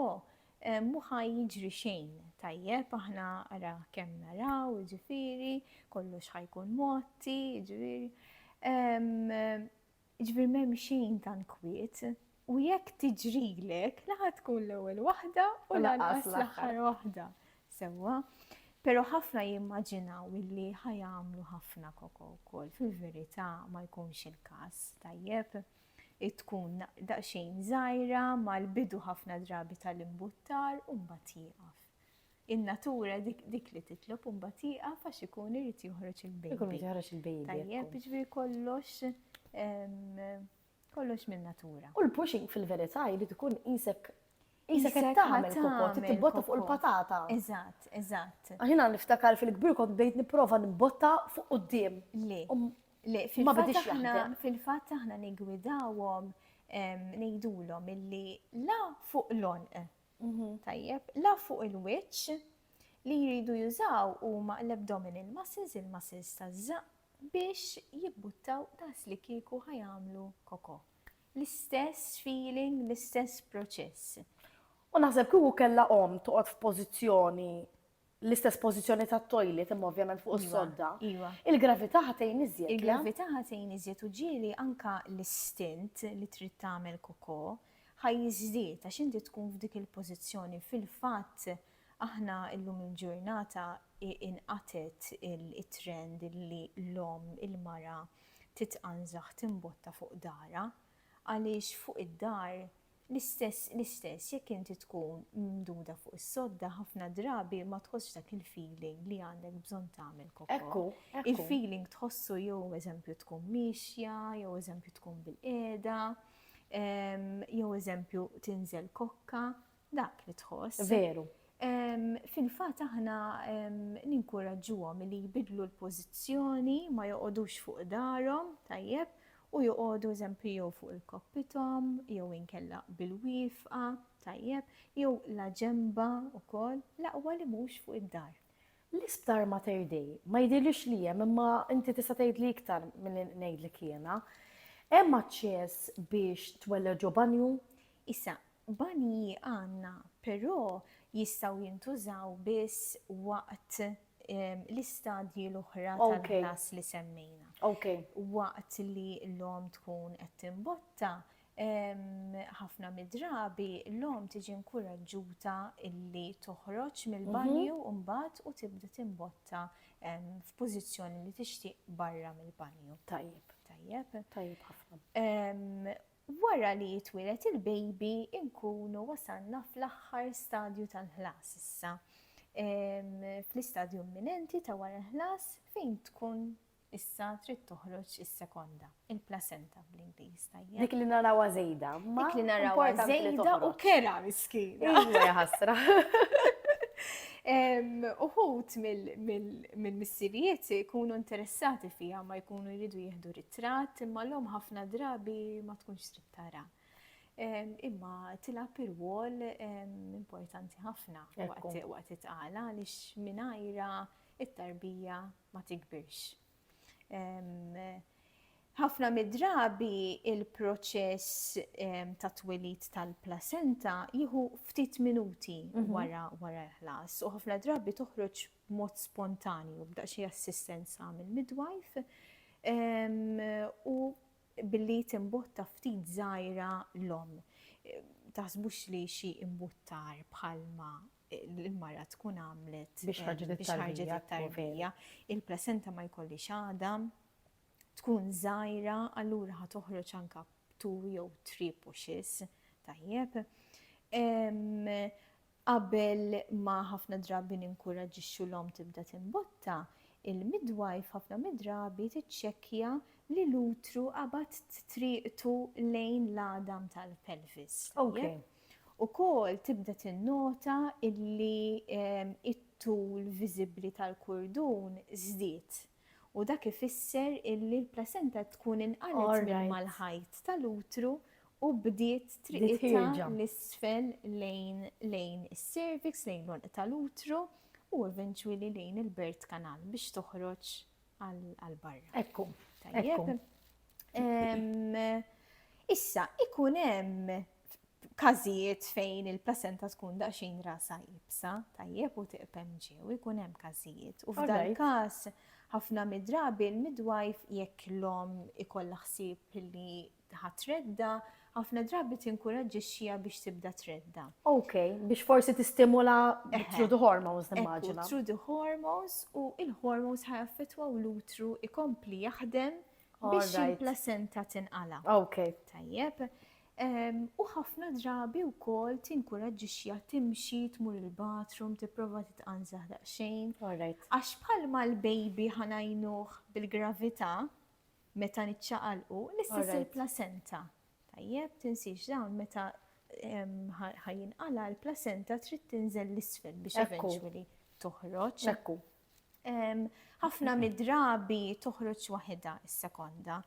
mhu ħa jiġri xejn, tajjeb, aħna ara kemm naraw, jiġifieri, kollox ħa jkun mgħotti, jiġifieri. Jiġifieri m'hemm xejn tant kwiet u jekk tiġrilek la ħa tkun l-ewwel waħda u lanqas l-aħħar waħda. Sewwa. Però ħafna jimmaġinaw illi ħa jagħmlu ħafna koko wkoll. Fil-verità ma jkunx il-każ, tajjeb? Tkun daqsxejn żgħira mal-bidu ħafna drabi tal-imbuttar u mbagħad jieqaf. in-natura dik li titlob u mbagħad jieqaf għax ikun irid joħroġ il-baby. Ikun irid joħroġ il-baby. Tajjeb, jiġifieri kollox kollox minn natura. U l-pushing fil-verità jrid ikun isek Isek qed tagħmel kokot, tibbotta fuq il-patata. Eżatt, eżatt. Aħina niftakar fil-kbir kont bdejt nipprova nbotta fuq quddiem. Le. Um, le, fil-fatt aħna nigwidawhom ngħidulhom illi la fuq l-onq Mhm, tajjeb. La fuq il-wiċċ li jridu jużaw huma l-abdominal muscles, il-muscles taż-żaqq, biex jibbuttaw daqs li kieku ħajamlu koko. L-istess feeling, l-istess proċess. U naħseb kieku kellha omm toqgħod f'pożizzjoni l-istess pożizzjoni tat-toilet imma ovvjament fuq is-sodda. Iva. Il-gravità ħatejn iżjed. Il-gravità ħatejn iżjed u ġieli anka l-istint li trid tagħmel koko ħaj jiżdied għax inti tkun f'dik il-pożizzjoni fil-fatt aħna llum il-ġurnata inqatet it-trend li l-omm il-mara titqanżaħ timbotta fuq dara għaliex fuq id-dar L-istess, l-istess jekk inti tkun mimduda fuq is-sodda ħafna drabi ma tħossx dak il-feeling li għandek bżonn tagħmel kokó. Ekku, ekku. Il-feeling tħossu jew eżempju tkun miexja, jew eżempju tkun bil-qiegħda, ehm, jew eżempju tinżel kokka, dak li tħoss. Veru. Fil-fat aħna ninkuraġġuhom li jbidlu l-pożizzjoni, ma joqogħdux fuq darhom, tajjeb, U joqogħdu eżempju jew fuq il-koppithom jew inkella bil-wifqa, tajjeb, jew la ġenbha wkoll, l-aqwa li mhux fuq id-dar. L-isptar Mater Dei ma jidhirlix li hemm imma inti tista' tgħidli iktar milli ngħidlek jiena. Hemm aċċess biex twellaġ ġo banju? Issa, Banji għandna, però jistgħu jintużaw biss waqt l-istadji l-oħra tal-ħlas li semmejna. Waqt li l-omm tkun qed timbotta, ħafna mid-drabi l-omm tiġi inkuraġġuta li toħroġ mill-banju mbagħad u tibda timbotta f'pożizzjoni li tixtieq barra mill-banju. Tajjeb. Tajjeb. Tajjeb ħafna. Wara li jitwieled il-baby nkunu wasalna fl-aħħar stadju tal-ħlas issa. Fl-istadju imminenti ta' wara l-ħlas fejn tkun issa trid toħroġ is-sekonda, il-placenta bl-Ingliż tajjeb. Dik li narawha żejda, ma dik li narawha żejda u kera miskina. Iva ħasra. Uħut mill mill-missirijiet ikunu interessati fiha ma jkunu jridu jieħdu ritratt imma l-om ħafna drabi ma tkunx trid tara. Imma tilab ir-wol importanti ħafna waqt it-tqala għaliex mingħajra it-tarbija ma tikbirx. Ħafna mid-drabi il-proċess ta' twelid tal-placenta jieħu ftit minuti mhm. wara wara l-ħlas u ħafna drabi toħroġ b'mod spontanju, b'daqsxejn assistenza mill-midwife, u billi timbotta ftit żgħira l-omm. Taħsbux li xi imbuttar bħalma l-mara tkun għamlet biex ħarġet it-tarbija. Il-placenta ma jkollhiex għadam, tkun żgħira, allura ħa toħroġ anke b'two jew three pushes, tajjeb. Qabel ma ħafna drabi ninkuraġġixxu l-omm tibda timbotta, il-midwife ħafna mid-drabi tiċċekkja li l-utru qabad triqtu lejn l-għadam tal-pelvis, tajjeb? Ukoll tibda tinnota li t-tul viżibbli tal-kurdun żdied. U dak ifisser illi l-plasenta tkun inqalgħet minn mal-ħajt tal-utru u bdiet triqitha 'l isfel lejn lejn is-cervix, lejn l-għonq tal-utru u eventually lejn il-birth canal biex toħroġ għal barra. Ekku. Tajjeb. Issa, ikun hemm f'każijiet fejn il-placenta tkun daqsxejn rasa ibsa, tajjeb u tiqpem ġew, ikun hemm każijiet. U f'dan il-każ ħafna midrabi l-midwife jekk l-om ikollha ħsieb li ħatredda, ħafna drabi tinkuraġġixxiha biex tibda tredda. Ok, biex forsi tistimula through the hormones nimmaġina. Through the hormones u il-hormones ħajaffetwaw l-utru ikompli jaħdem biex il-placenta tinqala. Ok. Tajjeb. U ħafna drabi wkoll tinkuraġġixxiha timxi tmur il-bathroom tipprova titqanżaħ daqsxejn. Għax bħalma l-baby ħanajnuh bil-gravità meta niċċaqalqu, l-istess il-placenta. Tajjeb, tinsiex dawn meta ħajinqala l-placenta trid tinżel l-isfel biex eventually toħroġ. Ekku. Ħafna mid-drabi toħroġ waħedha is-sekonda.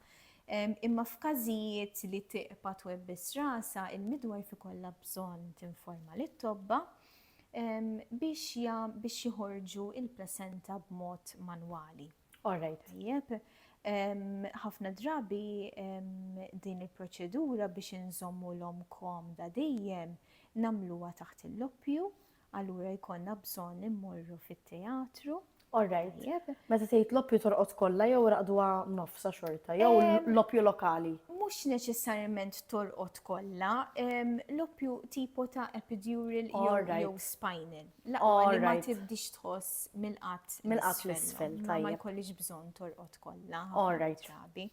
Imma f'każijiet li tiqpa twebbis rasa, il-midwar fi kollha bżonn tinforma lit tobba biex biex joħorġu il-placenta b'mod manwali. Orrejt. Tajjeb. Ħafna drabi din il-proċedura biex inżommu l-om komda dejjem nagħmluha taħt il-loppju Allura jkollna bżonn immorru fit-teatru. All right. Tajjeb. Meta tgħid l-oppju torqod kollha jew raqduha nofsha xorta jew Ehm. l-oppju lokali? Mhux neċessarjament torqod kollha, ehm, l-oppju tipo ta' epidural jew All right. jew spinal. L-aqwa All li ma right. tibdix tħoss mill-qatt Mill-qatt l-isfel, ma- Ma tajjeb. jkollix bżonn torqod kollha All ħafna right. drabi.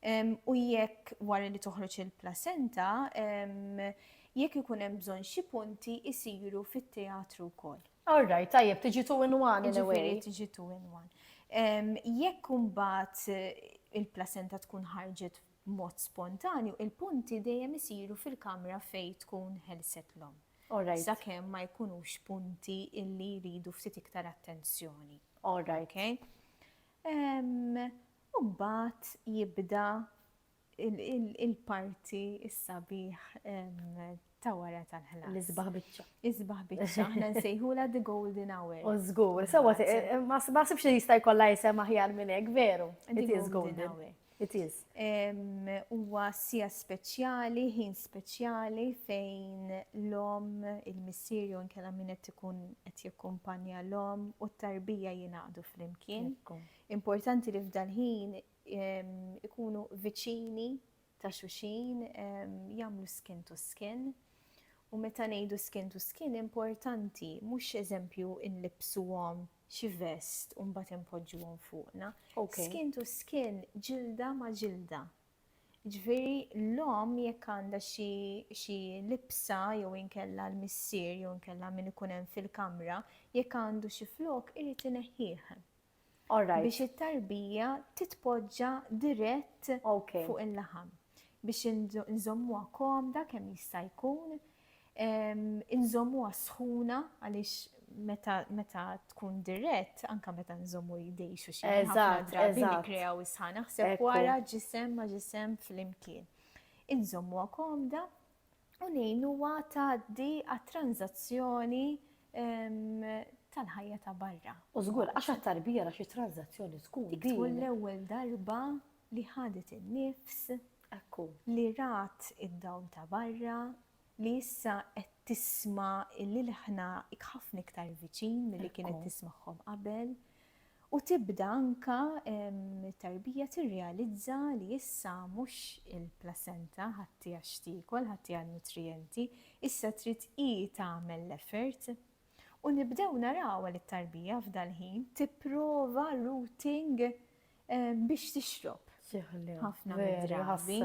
Ehm, U jekk wara li toħroġ il-placenta, ehm, Jekk ikun hemm bżonn xi punti jsiru fit-teatru wkoll. All right, tajjeb, tiġi two in one in a way. Jiġifieri tiġi two in one. Jekk imbagħad il-placenta tkun ħarġet b'mod spontanju, il-punti dejjem isiru fil-kamra fejn tkun ħelset l-omm. All right. Sakemm ma jkunux punti illi jridu ftit iktar attenzjoni. All right. Okay? Imbagħad jibda Il-parti is-sabiħ ta' wara tal-ħlas. L-isbaħ biċċa. Isbaħ biċċa, aħna nsejħula the golden hour. U żgur, sewa ma sibx li jista' jkollha jisem aħjar minn hekk, veru. It is golden hour. It is. Huwa sija speċjali, ħin speċjali fejn l-om, il-missier jew inkella min qed ikun qed jikkumpanja l-om u t-tarbija jingħaqdu flimkien. Importanti li f'dal-ħin ikunu viċini ta' xulxin, jagħmlu skin to skin. U meta ngħidu skin to skin importanti mhux eżempju inlibbsuhom xi vest u mbagħad inpoġġuhom fuqna. Skin to skin ġilda ma' ġilda. Ġifieri l-omm jekk għandha xi libsa jew inkella l-missier jew inkella min ikun hemm fil-kamra, jekk għandu xi flokk irid ineħħih. biex it-tarbija titpoġġa dirett fuq il-laħam biex inżommuha komda kemm jista' jkun, inżommuha sħuna għaliex meta tkun dirett, anke meta nżommu idejn xulxin ħafna drabi nikkrew is-sħana, naħseb wara ġisem ma' ġisem flimkien. Inżommuha komda, u ngħin huwa tgħaddi għat-tranżazzjoni tal-ħajja ta' barra. U żgur, għax għat-tarbija ra xi tranżazzjoni tkun din. Dik tkun l-ewwel darba li ħadet in-nifs, li rat id-dawl ta' barra, li issa qed tisma' l-ilħna ħafna iktar viċin milli kienet tismagħhom qabel, U tibda anke t-tarbija tirrealizza li issa mhux il-placenta ħadd hija x'tiekol, ħadd hija n-nutrijenti, issa trid hi tagħmel l-effort. U nibdew narawha li t-tarbija f'dal-ħin tipprova routing biex tixrob ħafna mid-drabi.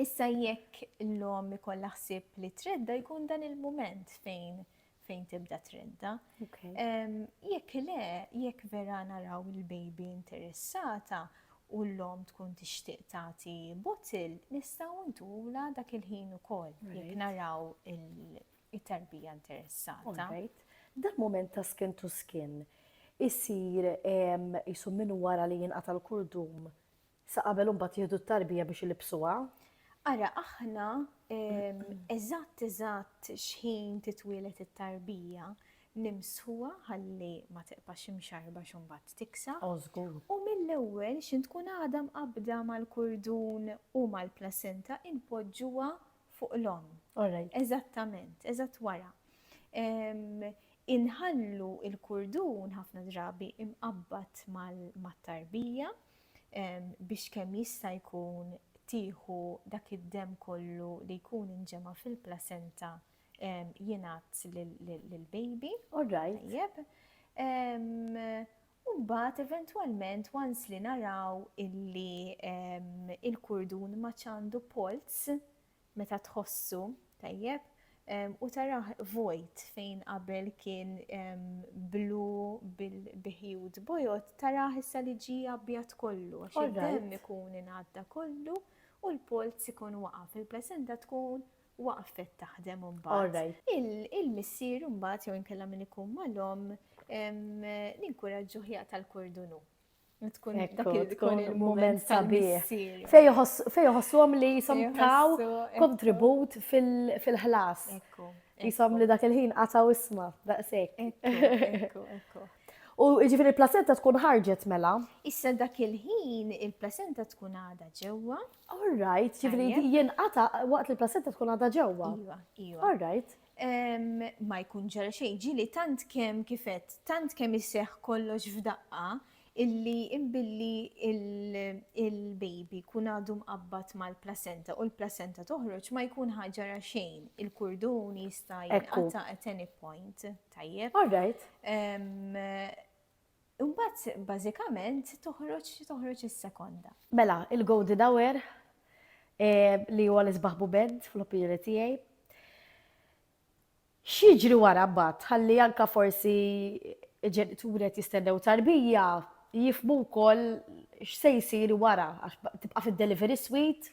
Issa jekk l-omm ikollha ħsieb li tredda jkun dan il-mument fejn fejn tibda tredda. Jekk le, jekk vera naraw il-baby interessata u l-lom tkun tixtieq tagħti bottle, nistgħu ntula dak il-ħin ukoll jekk naraw it-tarbija interessata. Dan mument ta' skin to skin isir isu minn wara li jinqata' l-kurdum Sa qabel u mbagħad jieħdu t-tarbija biex ilibsuha? Ara aħna eżatt eżatt x'ħin titwieled it-tarbija nimsħuha ħalli ma tiqpax imxarba x'mbagħad tiksa. Oh, żgur. U mill-ewwel x'in tkun għadha mqabbda mal-kurdun u mal-placenta inpoġġuha fuq l-omm. Eżattament, eżatt wara. Inħallu il-kurdun ħafna drabi imqabbad mat-tarbija biex kemm jista' jkun tieħu dak id-demm kollu li jkun inġema' fil-placenta jingħad lill-baby. All right. Tajjeb. U mbagħad eventwalment once li naraw illi il-kurdun ma għandu polz, meta tħossu tajjeb u tarah vojt fejn qabel kien blu bil-biħjud bojod tarah issa li ġi abjad kollu għax id-demm ikun ingħadda kollu u l-polz ikun waqaf il-placenta tkun waqfet taħdem imbagħad. Il-missier imbagħad jew inkella min ikun mal-omm ninkuraġġuh jaqta' l-kordunu. tkun tkun il-moment sabiħ. Fej joħossuhom li jisom taw kontribut fil-ħlas. Jisom li dak il-ħin qataw isma, daqsek. U ġifiri il-placenta tkun ħarġet mela? Issa dak il-ħin il-placenta tkun għada ġewwa. All right, ġifiri jinqata waqt li il-placenta tkun għada ġewwa. Iva, iva. All right. Ma jkun ġara xejn, ġieli tant kemm kif għedt, tant kemm iseħħ kollox f'daqqa illi imbilli l-baby jkun għadu mqabbad mal-placenta u l-placenta toħroġ ma jkun ħa ġara xejn, il-kurdun jista' jinqata' at any point, tajjeb? All right. Imbagħad bażikament toħroġ toħroġ is-sekonda. Mela, il-Gold Dower li huwa l-isbaħ bubend fl-opinjoni tiegħi. X'jiġri wara mbagħad ħalli anka forsi ġenituri qed jistennew tarbija jifmu wkoll x'se jsir wara għax tibqa' fid-delivery suite.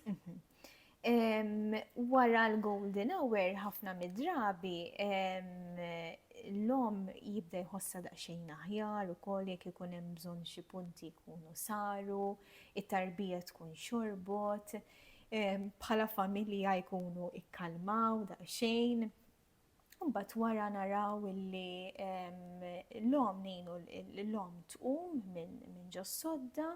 Wara l-golden hour ħafna mid-drabi l-omm jibda jħossha daqsxejn aħjar ukoll jekk ikun hemm bżonn xi punti jkunu saru, it-tarbija tkun xorbot, bħala familja jkunu ikkalmaw daqsxejn. Mbagħad wara naraw illi l-om ngħinu l-om tqum minn ġo sodda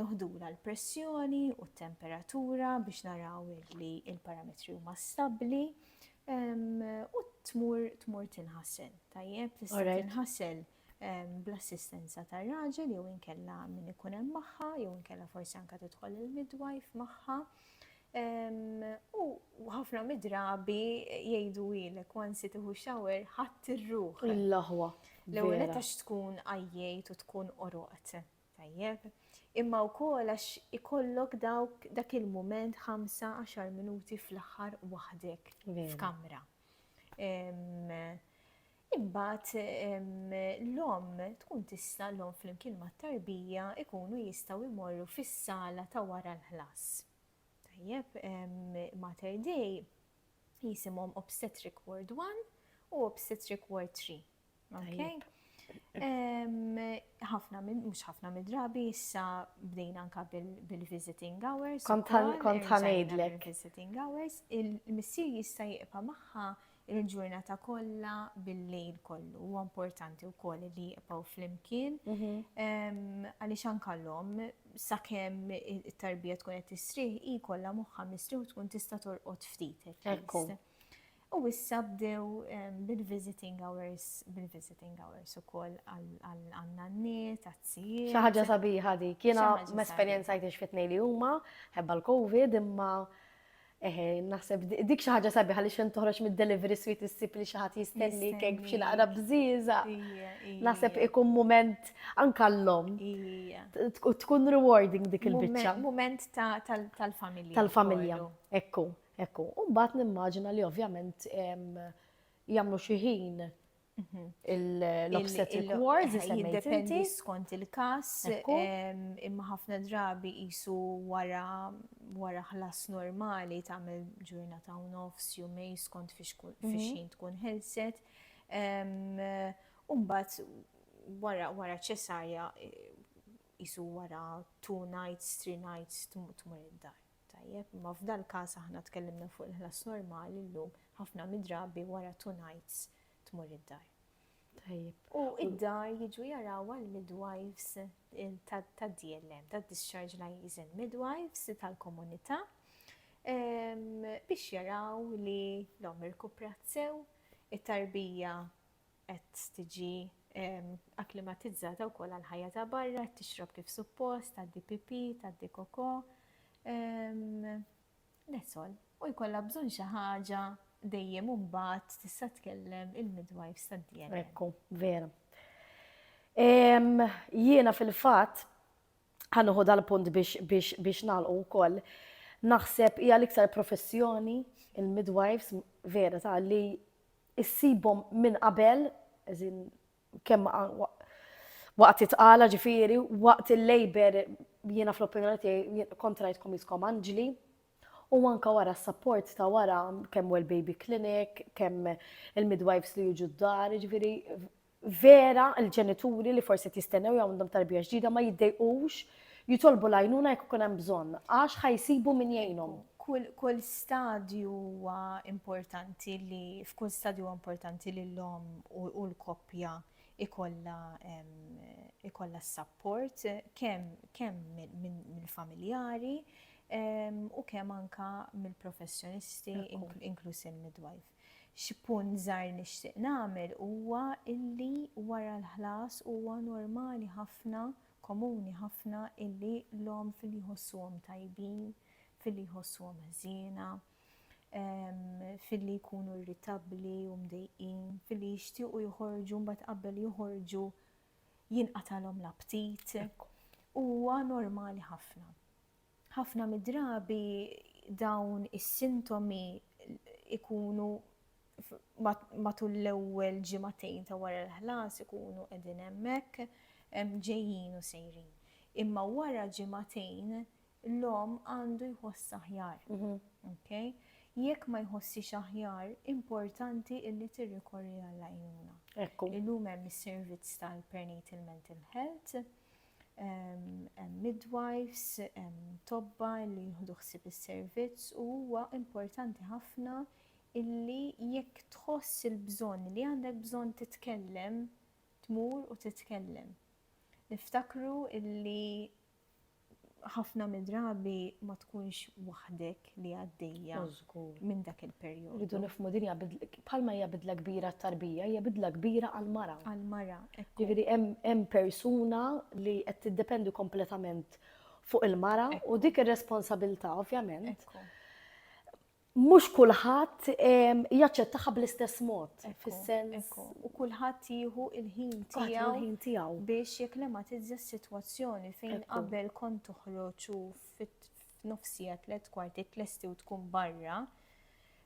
noħdula l-pressjoni u t-temperatura biex naraw li il-parametri huma stabbli u tmur tmur tinħasel. Tajjeb, tista' tinħasel bl-assistenza tar-raġel jew inkella min ikun hemm magħha jew inkella forsi anke tidħol il-midwife magħha. U ħafna midrabi jgħidu ilek wansi tiħu xawer ħadd ir-ruħ. Il-laħwa. L-ewwel għax tkun għajjejt u tkun oroqt. Tajjeb. Imma wkoll għax ikollok dawk dak il-mument 5-10 minuti fl-aħħar waħdek f'kamra. Imbagħad l-omm tkun tista' l-omm flimkien mat-tarbija jkunu jistgħu jmorru fis-sala ta' wara l-ħlas. Tajjeb, Mater Dei jisimhom Obstetric Ward One u Obstetric Ward Three. Tajjeb. Ħafna minn, mhux ħafna mid-drabi, issa bdejna anka bil-visiting hours. Kont ħa ngħidlek. Visiting hours, il-missier jista' jibqa' magħha il-ġurnata kollha bil-lejl kollu. Huwa importanti wkoll li jibqgħu flimkien għaliex anke l-omm sakemm it-tarbija tkun qed tisrih hi kollha moħħha mistrieħ tkun tista' torqod ftit. U issa bdew bil-visiting hours, bil-visiting hours u koll għanna n-niet, għazzijie. ħaġa sabiħa di, kiena m-esperienza jtix fit li huma, ħebba l-Covid, imma Eħe, naħseb dik xi ħaġa sabiħa li xejn toħroġ mid-delivery sweet issib li xi ħadd jistenni kek b'xi naqra bżieża. Naħseb ikun mument anke l-lom. Tkun rewarding dik il-biċċa. Mument tal-familja. Tal-familja. Ekku, ekku. U mbagħad nimmaġina li ovvjament jagħmlu xi ħin l-obstetric wards, jiddependi skont il-kas, imma ħafna drabi jisu wara ħlas normali ta' mel ġurnata u nofs, jumej skont fiex mhm. xin tkun ħelset. Umbat wara ċesarja jisu wara two nights, three nights, tmur id-dar. Tajjeb, imma f'dal-każ aħna tkellimna fuq il-ħlas normali llum, ħafna mid-drabi wara two nights tmur id-dar. Tajjeb. U id-dar jiġu jarawha l-midwives tad-DLM, tad-Discharge Liaison Midwives tal-komunità biex jaraw li l-omm irkuprat sew, it-tarbija qed tiġi akklimatizzata wkoll għall-ħajja ta' barra, qed tixrob kif suppost, tgħaddi pipì, tgħaddi kokò. That's all. U jkollha bżonn xi ħaġa dejjem u mbagħad tista' tkellem il-midwives tad-DNA. Ekku, vera. Jiena fil-fatt ħanuħu dal-punt biex nagħlqu wkoll. Naħseb hija l-iktar professjoni il-midwives vera ta' li issibhom minn qabel, as in kemm waqt it-tqala ġifieri, waqt il-labour jiena fl-opinjoni tiegħi kont rajtkom qiskom anġli, u anke wara s-sapport ta' wara kemm well baby clinic, kemm il-midwives li jiġu d-dar, jiġifieri Vera, il-ġenituri li forsi qed jistennew jew għandhom tarbija ġdida ma jiddejqux jitolbu l-għajnuna jekk ikun hemm bżonn, għax ħa jsibu min jgħinhom. Kull stadju huwa importanti li f'kull stadju huwa importanti li l-omm u l-koppja ikollha ikollha s-sapport kemm mill-familjari u kemm anke mill-professjonisti inkluż il-midwife. Xi punt żgħir nixtieq nagħmel huwa illi wara l-ħlas huwa normali ħafna, komuni ħafna illi l-omm filli jħossuhom tajbin, filli jħossuhom ħżiena, filli jkunu irritabbli u mdejqin, filli jixtiequ joħorġu mbagħad qabel joħorġu jinqatagħlhom l-aptit. Huwa normali ħafna. Ħafna mid-drabi dawn is-sintomi ikunu matul l-ewwel ġimagħtejn ta' wara l-ħlas ikunu qegħdin hemmhekk ġejjin u sejrin. Imma wara ġimagħtejn l-omm għandu jħoss aħjar. Mhm. Jekk ma jħossix aħjar, importanti illi tirrikorri għall-għajnuna. Illum hemm is-servizz tal-perinatal mental health hemm midwives, hemm tobba li jieħdu ħsieb is-servizz u huwa importanti ħafna illi jekk tħoss il-bżonn li għandek bżonn titkellem, tmur u titkellem. Niftakru illi ħafna midrabi ma tkunx waħdek li għaddejja minn dak il-perjodu. Ridu nifmu dinja bħalma hija bidla kbira t-tarbija, hija bidla kbira għal-mara. Għal-mara. Ġifieri hemm persuna li qed tiddependi kompletament fuq il-mara u dik ir-responsabilità ovvjament. Mhux kulħadd jaċċettaha bl-istess mod fis-sens u kulħadd jieħu il-ħin tiegħu biex jeklematizza s-sitwazzjoni fejn qabel kont toħroġ u nofsiegħa, tliet kwartiet lesti u tkun barra,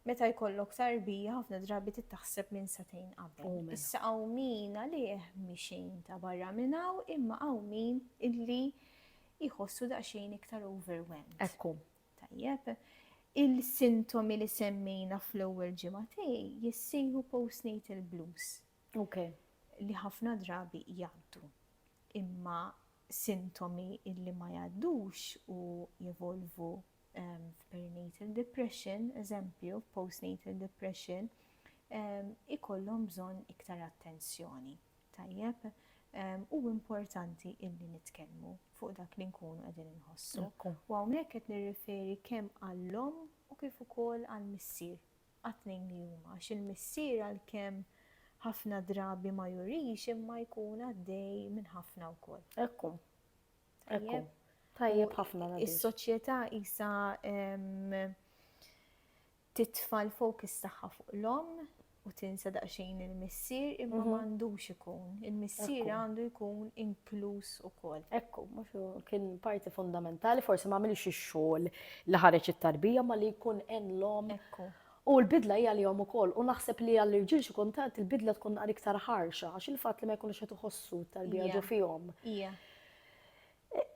meta jkollok tarbija ħafna drabi tittaħseb minn satejn qabel. Issa hawn min għalih mi xejn ta' barra minn hawn imma hawn min illi jħossu daqsxejn iktar overwhelmed. Ekku. Tajjeb. Il-sintomi li semmejna fl-ewwel ġimgħatej jissejħu postnatal blues. Ok, li ħafna drabi jgħaddu. Imma sintomi illi ma jgħaddux u jevolvu f'perinatal depression, eżempju, postnatal depression, ikollhom bżonn iktar attenzjoni. Tajjeb? U importanti illi nitkellmu fuq dak li nkunu qegħdin inħossu. U hawnhekk qed nirriferi kemm għall-omm u kif ukoll għall-missier. għat-tnejn li huma, għax il-missier għalkemm ħafna drabi ma jurix imma jkun għaddej minn ħafna wkoll. Hekk hu. Hekk hu. Tajjeb ħafna. Is-soċjetà isa titfa' l-fokus tagħha fuq l-om u tinsa daqsxejn il-missier imma mhm. m'għandux ikun. Il-missier għandu jkun inkluż ukoll. Ekku, mhux kien parti fundamentali, forsi ma għamilx ix-xogħol Li ħareġ it-tarbija ma li jkun għen l-omm. Ekku. U l-bidla hi għalihom ukoll. U naħseb li għall-irġiel xi kultant il-bidla tkun naqra iktar ħarxa għax il-fatt li ma jkunux qed iħossu t-tarbija ġo fihom. Hija.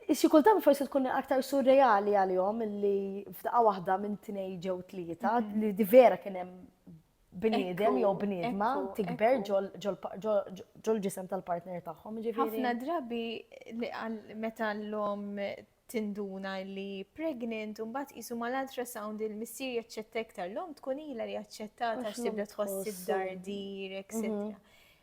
Xi kultant forsi tkun aktar surreali għalihom li f'daqqa waħda minn tnej ġew tlieta li di vera kien hemm bniedem jew bniedma tikber ġol-ġisem tal-partner tagħhom. Ħafna drabi meta l-lom tinduna li hi pregnant u mbagħad qisu mal-ultrasound il-missier jaċċetta iktar l-omm tkun ilha li aċċettat għax tibda tħoss id-dardir, etc. Mhm.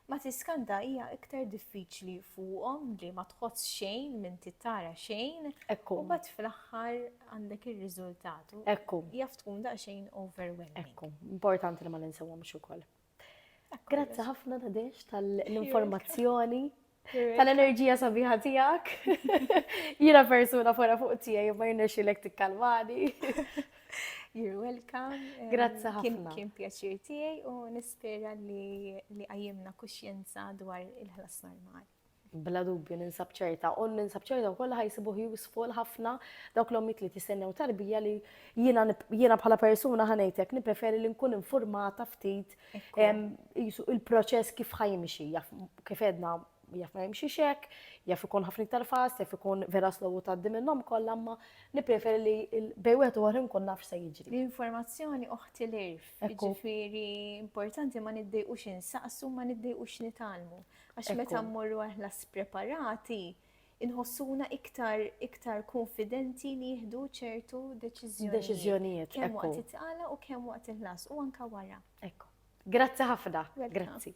Ma tiskanta hija iktar diffiċli fuqhom li ma tħoss xejn minn tittara xejn. Ekku. U bat fl-aħħar għandek ir-riżultat. Ekku. Jaf tkun daqsxejn overwhelming. Ekku. Importanti li ma ninsewhomx ukoll. Grazzi ħafna Nadesh tal-informazzjoni, tal-enerġija sabiħa tiegħek. Jiena persuna fora fuq tiegħi ma jirnexxilek tikkalmani. You're welcome. Grazzi ħafna. Kien pjaċir tiegħi u nispera li għajjimna kuxjenza dwar il-ħlas normali. Bla dubju ninsab ċerta, u ninsab ċerta wkoll li ħajsibuh useful ħafna dawk l-ommijiet li qed jistennew tarbija li jiena jiena bħala persuna ħa ngħidlek nippreferi li nkun infurmata ftit qisu il-proċess kif ħa jimxi, jaf kif għedna jaf ma jimxiex hekk, jaf ikun ħafna iktar fast, jaf ikun vera slow u tgħaddi minnhom kollha, imma nippreferi li l- bej wieħed u ieħor nkun naf x'se jiġri. L-informazzjoni oħti l-irf, Ekku. jiġifieri importanti ma niddejqux insaqsu, ma niddejqux nitgħallmu. Għax meta mmorru aħna spreparati, inħossuna iktar iktar konfidenti nieħdu ċertu deċiżjonijiet. Deċiżjonijiet. Kemm waqt it-tqala u kemm waqt il-ħlas u anka wara. Ekku. Grazzi ħafna. Grazzi.